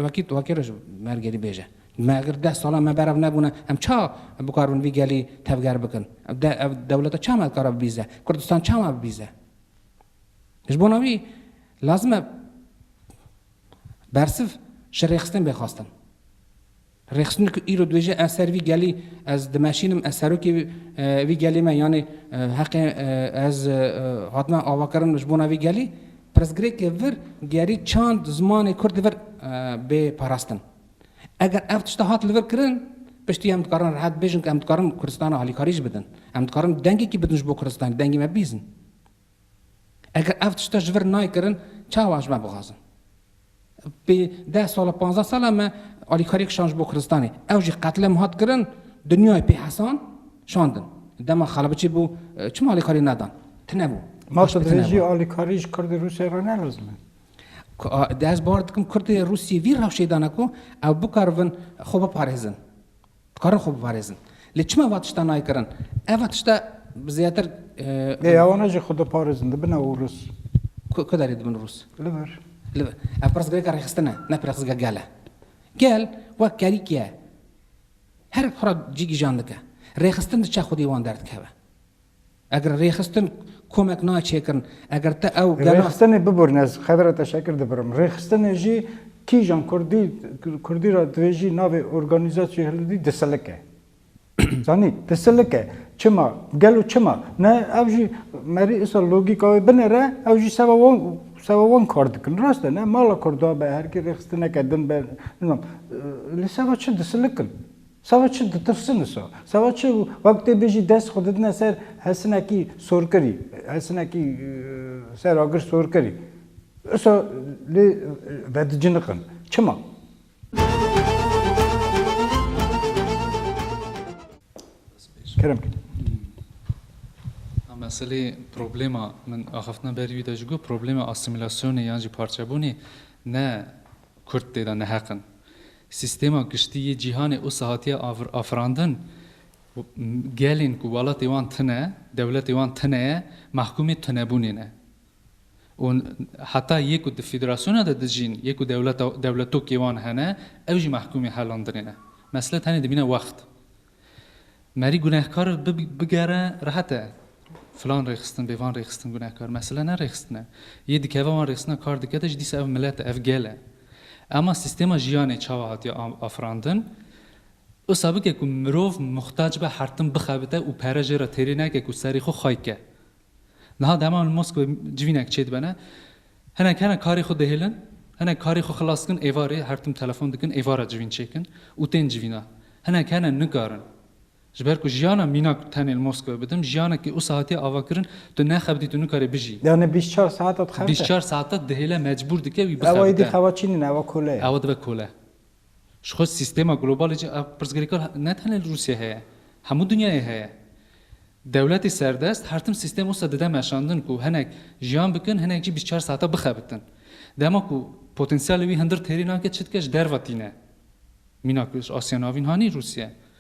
Speaker 3: Wekî tu wekî roj mer gerî bêje. Me eger deh salan me berev nebûne em ça bikar bin vî gelî tevger bikin? Ev de ev dewleta çawa me dikare bibîze? Kurdistan çawa bibîze? Ji bona wî lazim e bersiv ji rêxistin bê xwestin. Rêxistinê ku îro dibêje ez ser vî gelî ez dimeşînim, ez serokê vî gelê me yanê heqê ez hatime avakirin ji bona vî gelî, pirsgirêkê vir gerî çand zimanê kurdî vir bê parastin. Eger ev tişta hat li vir kirin, piştî em dikarin rehet bibêjin ku em dikarin Kurdistana alîkarî jî bidin. Em dikarin dengekî bidin ji bo Kurdistanê, dengê me bibîzin. Eger ev tişta ji vir nayê kirin, çawa ji me bixwazin? Pê deh sal e, panzdeh sal e me alîkariyek şand ji bo Kurdistanê. Ew jî qetlem hat kirin, dinyayê pê hesan şandin. Dema Xalabiçî bû, çima alîkarî nedan? Tinebû. Ma tu dibêjî
Speaker 1: alîkarî ji Kurdê Rûsê re nelezim e?
Speaker 3: Ez bawer dikim Kurdê Rûsî vî rewşê dane ku ew bikaribin xwe biparêzin. Dikarin xwe biparêzin. Lê çima va tiştan nayê kirin? Eva tişta bi zêdetir. Lê ya wana
Speaker 1: jî xwe diparêzin, dibine û rûs. Ku ku derê dibin
Speaker 3: rûs? Li vir. Li vir.
Speaker 1: Ev
Speaker 3: pirsgirêka rêxistin e, ne pirexzgirêka gel e. Gel wek kerîk ye. Her xwe ra cî gîjan dike. Rêxistin diçe xwedî wan derdikeve. Eger rêxistin komek nayê çêkirin. Eger te ew gelo. Rêxistinê bibûrîn ez
Speaker 1: Xedira Teşekir dibirim. Rêxistinê jî kîjan kurdî kurdî ra dibêjî navê organîzasyonê hilbidî disilik e. Zanî? Disilik e. Çima? Gelo çima? Ne ew jî merî îsal logîka wê binêre ew jî seba wan seba wan kar dikin. Rast e ne mala kurda be herkê rêxistineke din be nizam li seba çi disilik in. Sava çi ditirsin wisa? Sava çi wek tê bêjî dest xwe didine ser hesinekî sorkirî, hesinekî ser agir sorkirî. Wisa lê vediciniqin. Çima? Kerem kî.
Speaker 2: Meselê problema min axiftina berî wî de ji ku problema asîmîlasyonê yan jî parçebûnê ne Kurd tê de neheq in. Sîstêma giştî yê cîhanê usa hatiye afirandin. Gelên ku welatê wan tune, dewletê wan tune ye, mehkûmê tunebûnê ne. Û heta yê ku di federasyona de dijîn, yê ku dewleta dewletokê wan hene, ew jî mehkûmê helandinê ne. Mesele tenê dimîne wext. Merî gunehkar bigere rehet e. Filan rêxistin bê, van rêxistin gunehkar. Mesele ne rêxistin e. Yê dikeve wan rêxistina kar dike de jî dîsa ev milet e, ev gel e. Ema sîstêma jiyanê çawa hatiye afirandin? Wisa bike ku mirov muxtac be hertim bixebite û pere jê re têrê neke ku serê xwe xay ke. Niha di heman Moskewê civînek çêdibene. Hinek hene karê xwe dihêlin, hinek karê xwe xilas dikin êvarê, her tim telefon dikin êvara civîn çêkin û tên civîna. Hinek hene nikarin. Ji ber ku jiyana mînak tenê li Moskewê bidim, jiyanekî usa hatiye avakirin, tu nexebitî, tu nikarî bijî. Yanê bîst çar saet
Speaker 1: te dixebite. Bîst çar saet te dihêle,
Speaker 2: mecbûr dike wî bixebite. Ew êdî xewa çîn in, ew e
Speaker 1: kole ye. Ew dibe kole.
Speaker 2: Ji xwe sîstema globalê cih a pirsgirêka ne tenê li Rûsyayê heye, hemû dinyayê heye. Dewletê serdest her tim sîstem wisa dide meşandin ku hinek jiyan bikin, hinek jî bîst û çar saeta bixebitin. Dema ku potensiyalê wî hindir têrê nake çi dike ji derve tîne. Mîna ku ji Asya Navîn hanî Rûsya.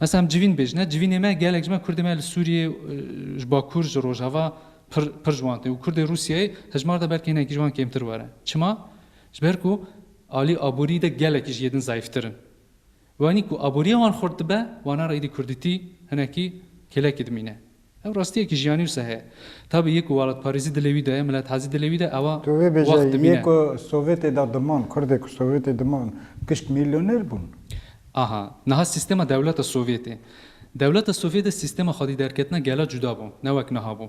Speaker 2: Mesela em civîn bêjin e, civînê me gelek ji me Kurdê me li Sûriyê ji Bakur ji Rojava pir pir ji wan tê û Kurdê Rûsiyeyê hejmar de belkî hinekî ji wan kêmtir were. Çima? Ji ber ku alî aborî de gelekî ji yê din zayîftir in. Wanî ku aboriya wan xurt dibe, wana re êdî kurdîtî hinekî kêlekî dimîne. Ev rastiyekî jiyanî wisa heye. Tabî yê ku welatparêzî dilê wî de ye, milethazî dilê wî de ye, ewa Tu vê bêje, yê
Speaker 1: ku
Speaker 2: Sovyetê
Speaker 1: de diman, Kurdê ku Sovyetê diman gişt mîlyoner bûn. Aha,
Speaker 2: niha sîstema dewleta Sovyetê. Dewleta Sovyet de sîstema xwedîderketina gela cuda bû, ne wek niha bû.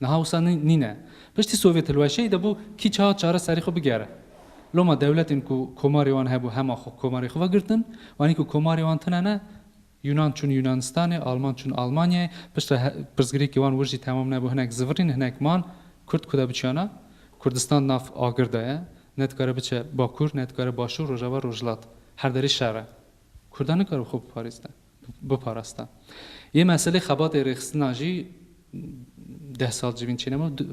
Speaker 2: Niha wisa nîne. Piştî Sovyet hilweşeyî de bû kî çawa çare serê xwe bigere. Loma dewletên ku komarê wan hebû hema xwe komarê xwe vegirtin. Wanî ku komarê wan tune ne, Yunan çûn Yunanistanê, Alman çûn Almanyayê, pişt re pirsgirêkê wan wir jî temam nebû hinek zivirîn hinek man. Kurd ku de biçiyana? Kurdistan di nav agir de ye. Ne dikare biçe bakur, ne dikare başûr, rojava, rojhilat. Her derê şer e. Kurda nikare xwe biparêzne. biparasta. Yê meselê xebatê rêxistinan jî deh sal civîn çênema du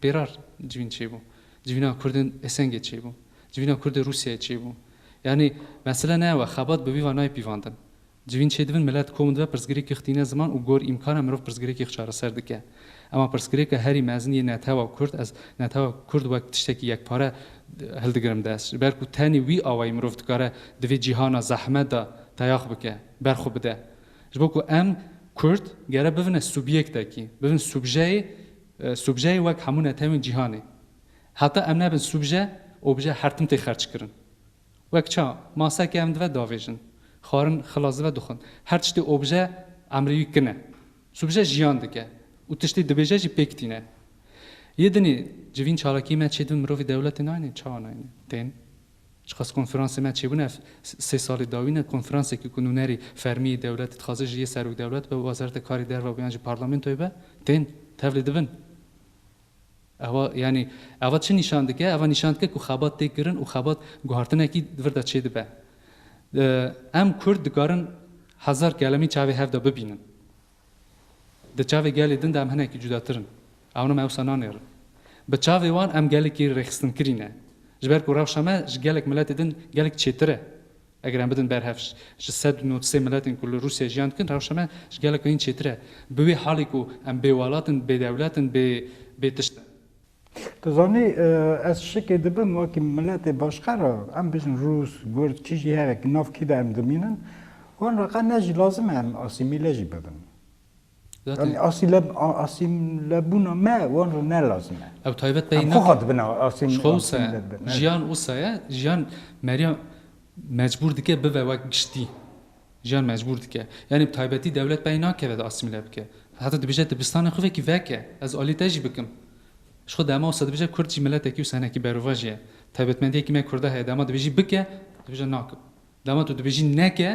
Speaker 2: pêrar civîn çêbû. Civîna kurdên Esengê çêbû. Civîna kurdê Rûsyayê çêbû. Yanî mesele ne ew e, xebat bi vî va nayê pîvandin. Civîn çêdibin, milet kom dibe, pirsgirêkîx tîne ziman û gor îmkan e mirov pirsgirêkîx çareser dike. Ema pirsgirêka herî mezin yê netewa kurd, ez netewa kurd wek tiştekî yekpare hildigirim dest. Ji ber ku tenê wî awayî mirov dikare di vê cîhana zehmet de teyax bike, ber xwe bide. Ji bo ku em kurd gere bivine subîyektekî, bivin subjeyê, subjeyê wek hemû netewên cîhanê. Heta em nebin subje, obje her tim tê xerçkirin. Wek ça, maseke em dive davêjin, xwarin xilas dive dixwin. Her tiştê obje emrê wî kin e. Subije jiyan dike û tiştê dibêje jî pêk tîne. Yê dinê civîn çalakiyê me çêdibin mirovî dewletê nayne çawa nayne? Tên. Çiqas konferansê me çêbûne ev sê salê dawî ne konferansekî ku nûnerî fermî yê dewletê dixwaze ji yê serokdewlet be, wezareta karê derve be yan jî parlamentoyê be. Tên. Tevlê dibin. Eva yanî eva çi nîşan dike? Eva nîşan dike ku xebat tê kirin û xebat guhartinekî di vir de çêdibe. Em Kurd dikarin hezar kelemî çavê hev de bibînin. Di çavê gelê din de em hinekî cudatir in. Ewna me ewsa nanêrin. Bi çavê wan em gelekî rêxistinkirî ne. Ji ber ku rewşa me ji gelek miletê din gelek çêtir e. Eger em bidin ber hev ji sed û nod sê miletên ku li Rûsyayê jiyan dikin, rewşa me ji gelek hîn çêtir e. Bi wê halê ku em bêwelat in, bêdewlet in, bê bê tişt in. Tu zanî
Speaker 1: ez şikê dibim wekî miletê başka re em bijin Rûs, Gurd çi jî hebe ki nav kî de em dimînin wan re qe ne jî lazim e em asîmîle jî bibin. Yanî asîleb a asîmlebûna me wan re ne lazim e. Ew taybet beyî Em xwe nake. xwe
Speaker 2: dibin asîm
Speaker 1: Ji xwe wisa ye. asîmleb bin.
Speaker 2: Jiyan wisa ye. Jiyan Merya mecbûr dike bibe wek giştî. Jiyan mecbûr dike. Yanî bi taybetî dewlet beyî nake vede asîmle bike. Heta dibêje dibistanê xwe vekî veke. Ez alî te jî bikim. Ji xwe dema wisa dibêje kurd jî miletekî wisa hinekî berovac ye. Taybetmendiyekî me kurda heye dema dibêjî bike, dibêje nakim. Dema tu dibêjî neke,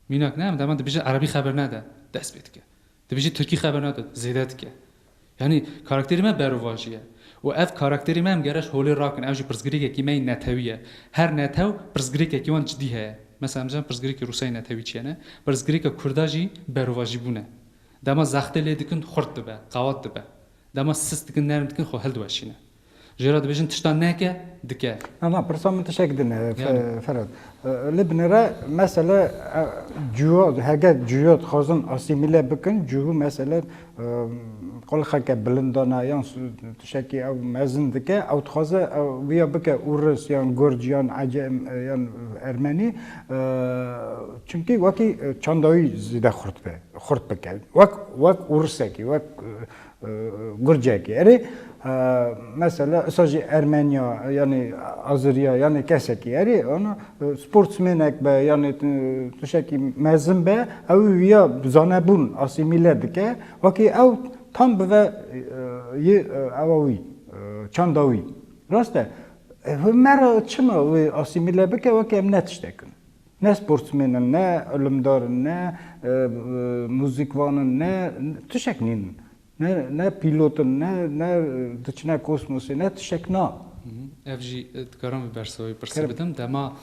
Speaker 2: mînak ne, em dema dibêje erebî xeber nade, dest pê dike. Dibêjî tirkî xeber nade, zêde dike. Yanî karakterê me berovajî ye û ev karakterê me em gere ji holê rakin. Ev jî pirsgirêkekî me yê netewî ye. Her netew pirsgirêkekî wan cidî heye. Mesela em zanibe pirsgirêkê Rûsayê netewî çi ye ne? Pirsgirêka Kurda jî berovajîbûn e. Dema zexte lê dikin xurt dibe, qewat dibe. Dema sist dikin, nerm dikin xwe hildiweşîne. Jê re dibêjin tişta neke, dike. Na na pirsa min tiştek
Speaker 1: din e Ferhat. Li binêre mesele cûya hege cûya dixwazin asîmîle bikin cûhû mesele qulxeke bilind dana yan tiştekî ew mezin dike ew dixwaze wîya bike ûris yan gurc yan ecem yan ermenî çimkî wekî çanda wî zêde xurt be xurt bike wek wek ûrisekî wek Gurcekê. Erê mesela isa jî Ermenya yanî Aziriya yanî kesekî erê ana sportsmênek be yanî tişekî mezin be ew ya zanebûn asîmîle dike wekî ew tam bi ve yê ewa wî çanda wî. Rast e? Hûn me re çima wê asîmîle bike wekî em ne tiştek in. Ne sportsmên in, ne ilimdar in, ne muzîkvan in, ne tişek nîn. Ne ne pîlot in, ne ne diçine kosmosê, ne tişek na. Ev jî
Speaker 2: dikarim bi bersa wî pirsî bidim. Dema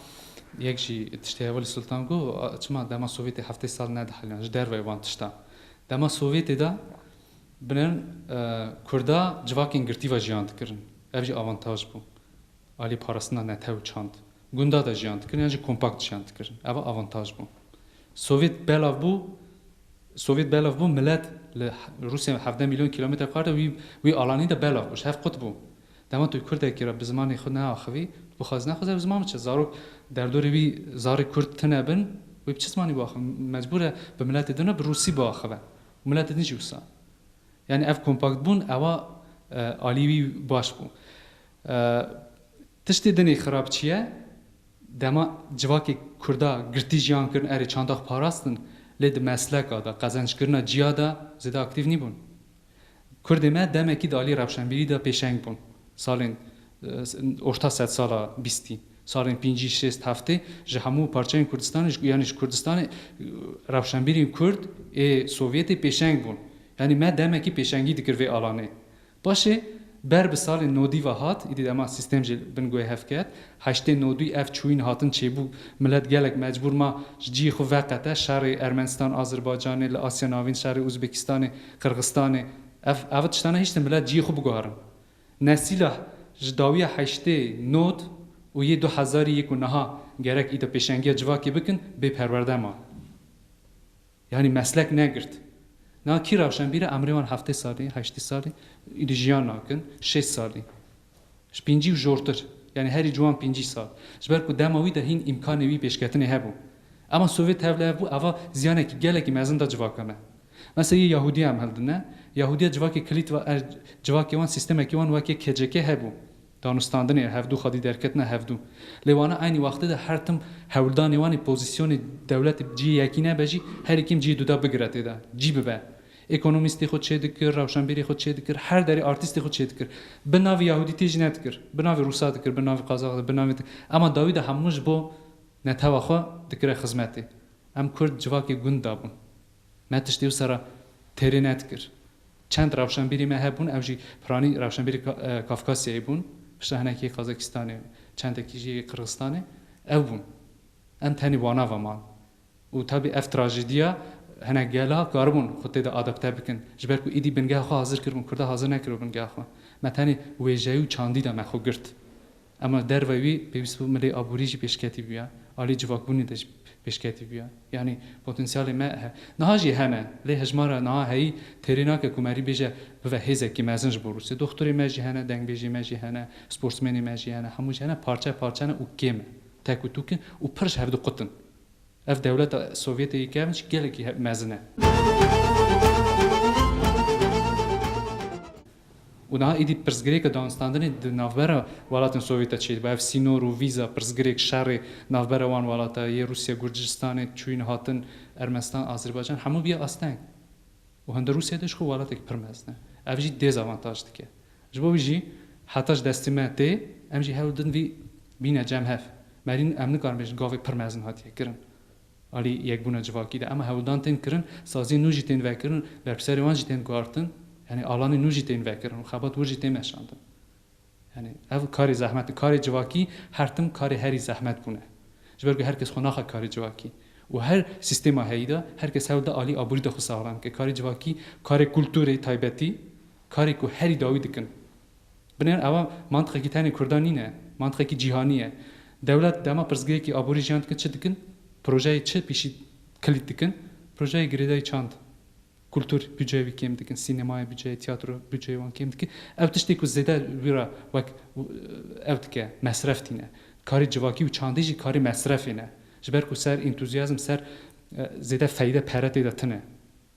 Speaker 2: yek jî tiştê heva li Sultan got, çima dema Sovyetê heftê sal nediheliyan ji derveyê van tiştan. Dema Sovyetê de bilind kurda civakên girtî ve jiyan dikirin. Ev jî avantaj bû. Alî parastina netew çand. Gunda de jiyan dikirin yan jî kompakt jiyan dikirin. Eva avantaj bû. Sovîet belav bû, Sovîet belav bû milet li Rûsya hevdeh mîlyon kîlometre kar de wî wî alanî de belav bû, ji hev qut bû. Dema tu kurdekî re bi zimanê xwe neaxivî, tu bixwazî nexwaze bi ziman biçe. Zarok derdorê wî zarê kurd tune bin, wê bi çi zimanî biaxive? Mecbûr e bi miletê din re bi rûsî biaxive û miletê din jî wisa. Yanî ev kompaktbûn ewa alî wî baş bû. Tiştê dinê xirab çi ye? Dema civakê Kurda girtî jiyan kirin erê çanda xwe parastin lê di mesleka de, qezencikirina ciya de zêde aktîf nîbûn. Kurdê me demekî di aliyê rewşenbîrî de pêşeng bûn. Salên orta sedsala bîstî, salên pêncî, şêst, heftê ji hemû parçeyên Kurdistanê yanî ji Kurdistanê rewşenbîrên Kurd ê Sovyetê pêşeng bûn. Yanî me demekî pêşengî dikir vê alanê. Paşê ber bi salê nodî ve hat, îdî dema sîstêm jî li bin guhê hev ket. Heştê nodî ev çûyîn hatin çêbû, milet gelek mecbûr ma ji ciyê xwe veqete, şerê Ermenistan, Azerbaycanê, li Asya Navîn şerê Uzbekistanê, Qirgistanê, ev ev tişta nehiştin milet ciyê xwe biguharin. Ne sîlah ji dawiya heştê nod û yê du hezarî yê ku niha gerek îdî pêşengiya civakê bikin, bê perwerde ma. Yanî meslek negirt. Niha kî rawşenbîre emrê wan heftê salî, heştî salî îdî jiyan nakin, şêst salî. Ji pîncî û jortir. Yanî herî ciwan pîncî sal. Ji ber ku dema wî de hîn îmkanê wî pêşketinê hebû. Ema Sovyet hev li hev bû eva ziyanekî gelekî mezin da civaka me. Mesela yê Yahudiya em hildine. Yahudiya civakê kilît va er civakê wan sîstemekî wan wekê KCK hebû. Danûstandinê hevdû xwedî derketina hevdû. Lê wana eynî wextê de her tim hewldanê wan ê pozîsyonê dewletê bi cihê yekî nebe jî herî kêm cihê duda bigire tê de. Cî bibe. Ekonomîstê xwe çê dikir, rewşenbîrê xwe çê dikir, her derê artîstê xwe çê dikir. Bi navê yahûdîtê jî nedikir. Bi navê rûsa dikir, bi navê qazax dikir, bi navê di. Ema dawî de hemû ji bo netewa xwe dikire xizmetê. Em kurd civakê gund dabûn. Me tiştî wisa re têrê nedikir. Çend rewşenbîrî me hebûn ew jî piranî rewşenbîrî Kafkasyayê bûn, piştre hinekî yê Kazakîstanê û çendekî jî yê Qirxistanê ew bûn. Em tenê wana ve man. Û tabî ev trajîdîya hinek gela karibûn xwe tê de adapte bikin. Ji ber ku êdî bingeha xwe hazir kiribûn, Kurda hazir nekiribû bingeha xwe. Me tenê wêjeyî û çandî de me xwe girt. Ema derve wî pêwîst bû milê aborî jî pêşketî bûya, alî civakbûnê de jî pêşketî bûya. Yanî potansyalê me he. Niha jî hene, lê hejmara niha heyî têrê nake ku merî bêje bive hêzekî mezin ji bo Rûsya. Doxturê me jî hene, dengbêjê me jî hene, sportsmenê me jî hene, hemû jî hene, parçe parçe ne û kêm e, tek û tûk in û pir ji hev diqutin. Ev dewleta Sovyetê yê kevn jî gelekî mezin e. Û niha êdî pirsgirêka danûstandinê di navbera welatên Sovyet de çêdibû. Ev sînor û vîza, pirsgirêk, şerê navbera wan welata yê Rûsya, Gurcistanê, çûyîn, hatin, Ermenistan, Azerbaycan hemû bîye asteng. Û hinda Rûsya de jixwe welatek pir mezin e. Ev jî dêzavantaj dike. Ji bo wî jî heta ji destê me tê, em jî hewl din vî bîne cem hev. Merîn em nikarin bêjin gavê pir mezin hatiye kirin. Alî yekbûna civakî de ema hewldan tên kirin, saziyên nû jî tên vekirin, berpirsiyarê wan jî tên guhartin, yanî alanên nû jî tên vekirin û xebat wir jî tên meşandin. Yanî ev karê zehmet e. Karê civakî her tim karê herî zehmet bûne. Ji ber ku her kes xwe naxe karê civakî û her sîstêma heyî de her kes hewl da alî aborî de xwe saxlem bike. Karê civakî karê kulturê taybetî, karê ku herî dawî dikin. Binêr ewa mantiqekî tenê kurdan nîne, mantiqekî cîhanî ye. Dewlet dema pirsgirêkî aborî jiyan dikin çi dikin? Projeyê çi pîşî kilît dikin? Projeyê girêdayî çand? Kultur bûceyê wî kêm dikin, sînemayê bûceyê, tîyatro bûceyê wan kêm dikin. Ew tiştê ku zêde wî re wek ew dike, mesref tîne. Karê civakî û çandî jî karê mesrefê ne. Ji ber ku ser entuziyazm, ser zêde feyde pere tê de tine.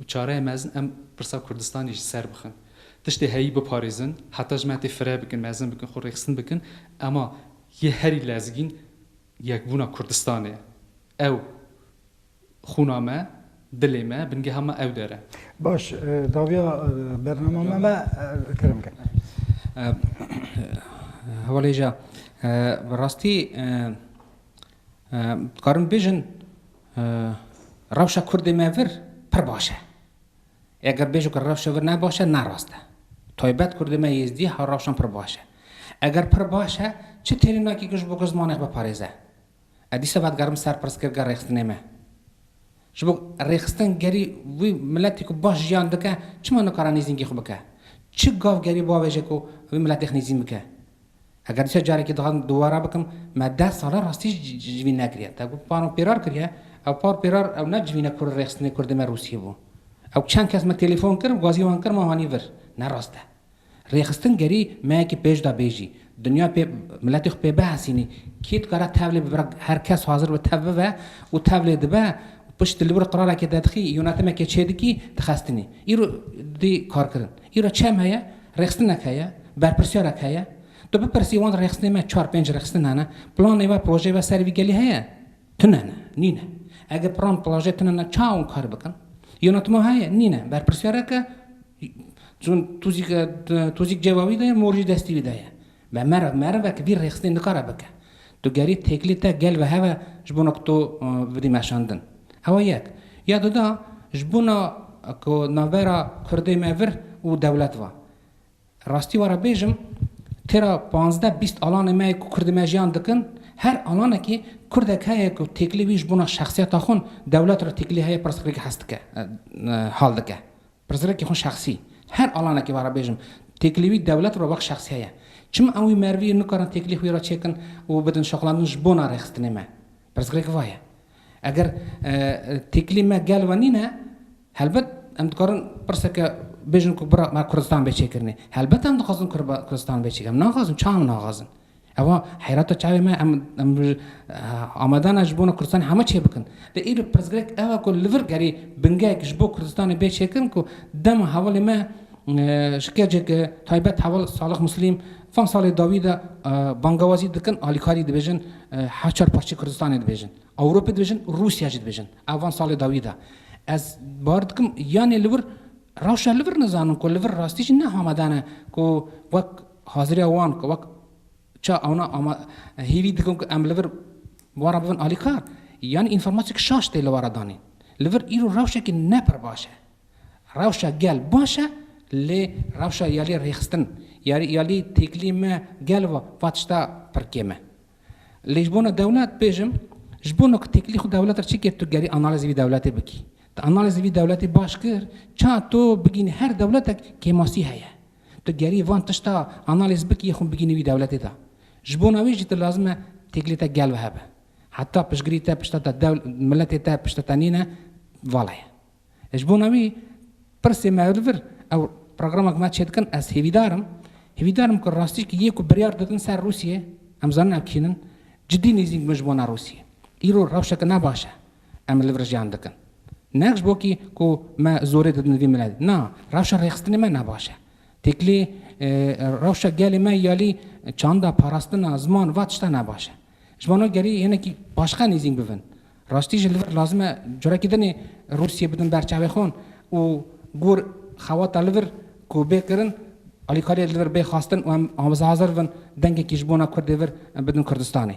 Speaker 2: Û çareyê mezin em pirsa Kurdistanê ji ser bixin. Tiştê heyî biparêzin, heta ji me tê fire bikin, mezin bikin, xwe rêxistin bikin. Ema yê herî lezgîn yekbûna Kurdistanê ye. Ew xûna me, dilê me, bingeha me ew der e. Baş,
Speaker 1: dawiya bernama me me kerem ke.
Speaker 3: Hevalêja, bi rastî Dikarin bêjin rewşa kurdê me vir pir baş e. Eger bêjo ke rewşa vir ne baş e, ne rast e. Taybet kurdê me Êzdî ha rewşan pir baş e. Eger pir baş e, çi têrî nakî ke ji bo ku zimanek biparêze? Ez dîsa vedigerim ser pirsgirka rêxistinê me. Ji bo rêxistin gerî wî miletî ku baş jiyan dike, çima nikare nêzîngî xwe bike? Çi gav gerî bavêje ku wî miletê xwe nêzîn bike? Eger dîsa carekê dixwazim dubara bikim, me deh sal e rastî ji vî nekiriye. Te ku pano pêrar kiriye, ew pano pêrar ew ne civîne ku rêxistinê kurdê me Rûsiyê bû. Ew çend kes me telefon kir û gazî wan kir me anî vir. Ne rast e. Rêxistin gerî me yekî pêş da bêjî, dinya pê miletê xwe pê bihesînî, kî dikare tevlê bibire her kes hazir be tev bive û tevlê dibe û piştî li vir qirarekê de dixî, yûnetimekê çêdikî dixestinî. Îro didî karkirin. Îro çem heye, rêxistinnek heye, berpirsyarek heye. Tu bipirsî wan rêxistinê me çar pênc rêxistin hene, planê we, projeyê we ser vî gelî heye? Tune ne, nîne. Ege plan, plajê tune ne çawa wan kar bikin? Yonatma heye? Nîne. Berpirsyarek e? Tuzîk tuzîk cêva wî de ye, mor jî destê wî de ye. Me meriv merivek vîr rêxistinê nikare bike. Tu gerî têkilî te gel ve heve ji bona ku tu bidî meşandin. Ewa yek. Ya duda, ji bona ku navbera Kurdê me vir û dewlet va. Rastî were bêjim, têra panzdeh bîst alanê me yê ku Kurdê me jiyan dikin, her alanekê Kurdek heye ku têkilî wî ji bona şexsiyeta xwe dewlet re têkilî heye pirsgirêk hes dike, hal dike. Pirsgirêkê xwe şexsî, her alanekê vara bêjim, têkilî wî dewlet re wek şexsî heye. Çima em wî merivî yên nikarin têkilî xwî re çêkin û bidin şoxlandin ji bona rêxistinê me? Pirsgirêk va ye. Eger têkilî me gel we nîne, helbet em dikarin pirseke bêjin ku bira me Kurdistan bê çêkirinê. Helbet em dixwazin Kurdistan bê çêkirinê. Em naxwazin, çawa em naxwazin? Eva heyrata çavê me em em amadana ji bona Kurdistanê heme çê bikin. Lê îro pirsgirêk ew e ku li vir gerî bingehek ji bo Kurdistanê bê çêkirin ku dema hevalê me ji kecek taybet heval Salih Muslîm van salê dawî de bangewazî dikin alîkarî dibêjin her çar parçeyê Kurdistanê dibêjin. Ewropê dibêjin Rûsya jî dibêjin. Ew van salê dawî de. Ez bar dikim yanê li vir rewşa li vir nizanin ku li vir rastî jî ne amadane ku wek Haziriya wan ku wek ça ewna ama hêvî dikin ku em li vir bi we re bibin alîkar, yanî înformasyek şaş tê li we re danîn. Li vir îro rewşekî ne pir baş e. Rewşa gel baş e lê rewşa yalî rêxistin, yalî yalî têkilî me gel ve va tişta pir kêm e. Lê ji bona dewlet bêjim, ji bona ku têkilî xwe dewlet re çi kir tu gerî analîzê vî dewletê bikî. Tu analîzê vî dewletê baş kir, ça tu bigînî her dewletek kêmasî heye. Tu gerî van tişta analîz bikî xwin bigînî wî dewletê de. Ji bona wî jî tu lazim e têkilê te gel bihe be. Heta piştgirî te pişta te dew miletê te pişta te nîne vala ye. Ji bona wî pirsê me li vir ew programa ku me çêdikin ez hêvîdar im. Hêvîdar im ku rastîşkî yê ku biryar didin ser Rûsiyê em zanin ew kînin cidî nêzîng bin ji bona Rûsiyê. Îro rewşeke ne baş e. Em li vir jiyan dikin. Neh ji bo kî ku me zorê didin vî milet. Na, rewşa rêxistinê me ne baş e. Têkilî rewşa gelê me yalî çanda, parastina, ziman va tişta ne baş e. Ji vana gerî hinekî paşxe nêzîn bibin. Rastî jî li vir lazim e carekî dinê Rûsyê bidin ber çavê xwe û gor xewata li vir ku bê kirin alîkariyê li vir bê xwestin û em hazir bibin dengekî ji bona Kurdê vir bidin Kurdistanê.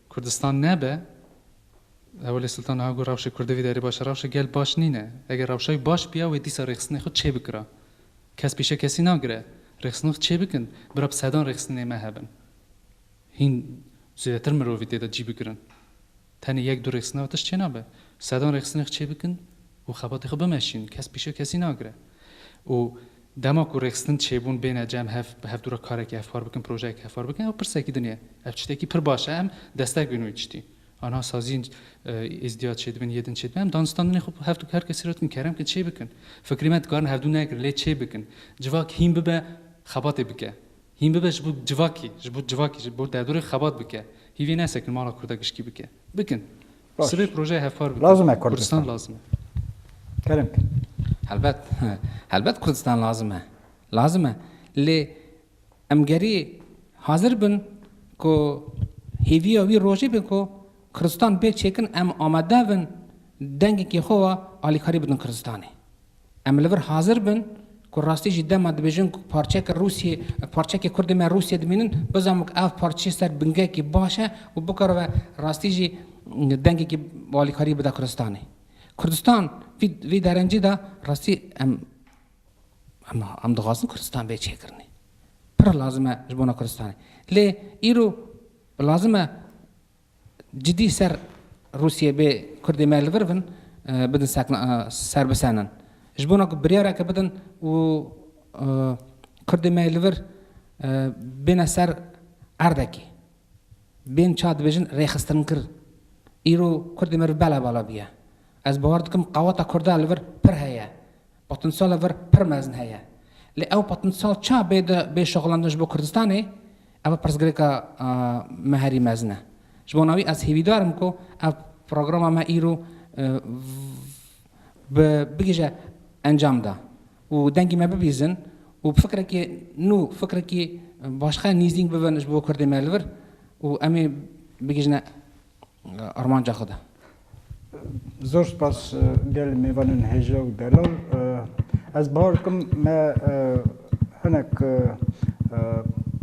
Speaker 2: Kurdistan nebe, Hewlê Sultan niha got rewşê Kurdê vî derê baş e. Rewşê gel baş nîne. Eger rewşa wî baş biya wê dîsa rêxistinê xwe çê bikira. Kes pîşe kesî nagire. Rêxistinê xwe çê bikin. Bira bi sedan rêxistinê me hebin. Hîn zêdetir mirovî tê de cî bigirin. Tenê yek du rêxistina wê tişt çê nabe. Sedan rêxistinê xwe çê bikin û xebatê xwe bimeşînin. Kes pîşe kesî nagire. Û Dema ku rêxistin çêbûn bêne cem hev bi hevdu re karekî hevpar bikin, projeyekî hevpar bikin ew pirsekî din e. Ev çitekî pir baş e em destek bîn wê tiştî. Anha sazîn Êzdiyad çêdibin yê din çêdibin em danûstandinê xwe hev du her kesî re dikin kerem bikin çêbikin. Fikrê me dikarin hevdu nekirin lê çêbikin. Civak hîn bibe xebatê bike. Hîn bibe ji bo civakî, ji bo civakî, ji bo derdorê xebat bike. Hîvê nesekin mala Kurda gişkî bike. Bikin. Sibê projeya
Speaker 1: hevpar bikin.
Speaker 2: Lazim e Kurdistan. Kurdistan lazim
Speaker 1: e.
Speaker 2: Kerim.
Speaker 1: Helbet.
Speaker 3: Helbet Kurdistan lazim e. Lazim e. Lê em gerî hazir bin ku hêviya wî rojê be ku Kurdistan bê çêkin em amade bin dengekî xwe ve alîkarî bidin Kurdistanê. Em li vir hazir bin ku rastî jî dema dibêjin ku parçeke Rûsyê, parçeke Kurdê me Rûsyê dimînin, bizanbin ku ev parçe ser bingekî baş e û bikaribe rastî jî dengekî alîkarî bida Kurdistanê. Kurdistan vî vî derencê de rastî em em em dixwazin Kurdistan bê çêkirinê. Pir lazim e ji bona Kurdistanê. Lê îro lazim e Cidî ser Rûsyê bê Kurdê me li vir bin bidin sekna ser bisenin. Ji bona ku biryareke bidin û Kurdê me li vir bêne ser erdekê. Bên çar dibêjin rêxistinkir. Îro Kurdê me li vir bela bala bûye. Ez bawer dikim qaweta Kurda li vir pir heye. Potinsiyala vir pir mezin heye. Lê ew potinsiyal ça bê di bê şoxlandin ji bo Kurdistanê? Ev pirsgirêka me herî mezin e. Ji bona wî ez hêvîdar im ku ev programa me îro bi bigihîje encam de û dengê me bibîzin û bi fikrekî nû, fikrekî başxe nîzdîng bibin ji bo kurdê me li vir û em ê bigihîjine armanca xwe de.
Speaker 1: Zor spas gelê mêvanên hêja û delal. Ez bi hal dikim me hinek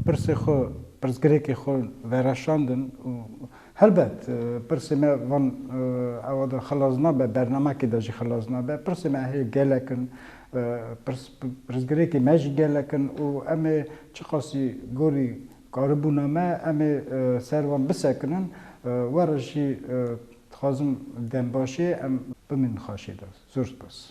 Speaker 1: pirsê xwe, pirsgirêkê xwe vereşandin û helbet pirsê me van ewa de xilas nabe, bernamekê de jî xilas nabe. Pirsê me hê gelek in, pirsgirêkê me jî gelek in û em ê çiqasî gorî Karibûna me em ê ser wan bisekinin. Were jî dixwazim dembaşê em bimînin xaşê de. Zor spas.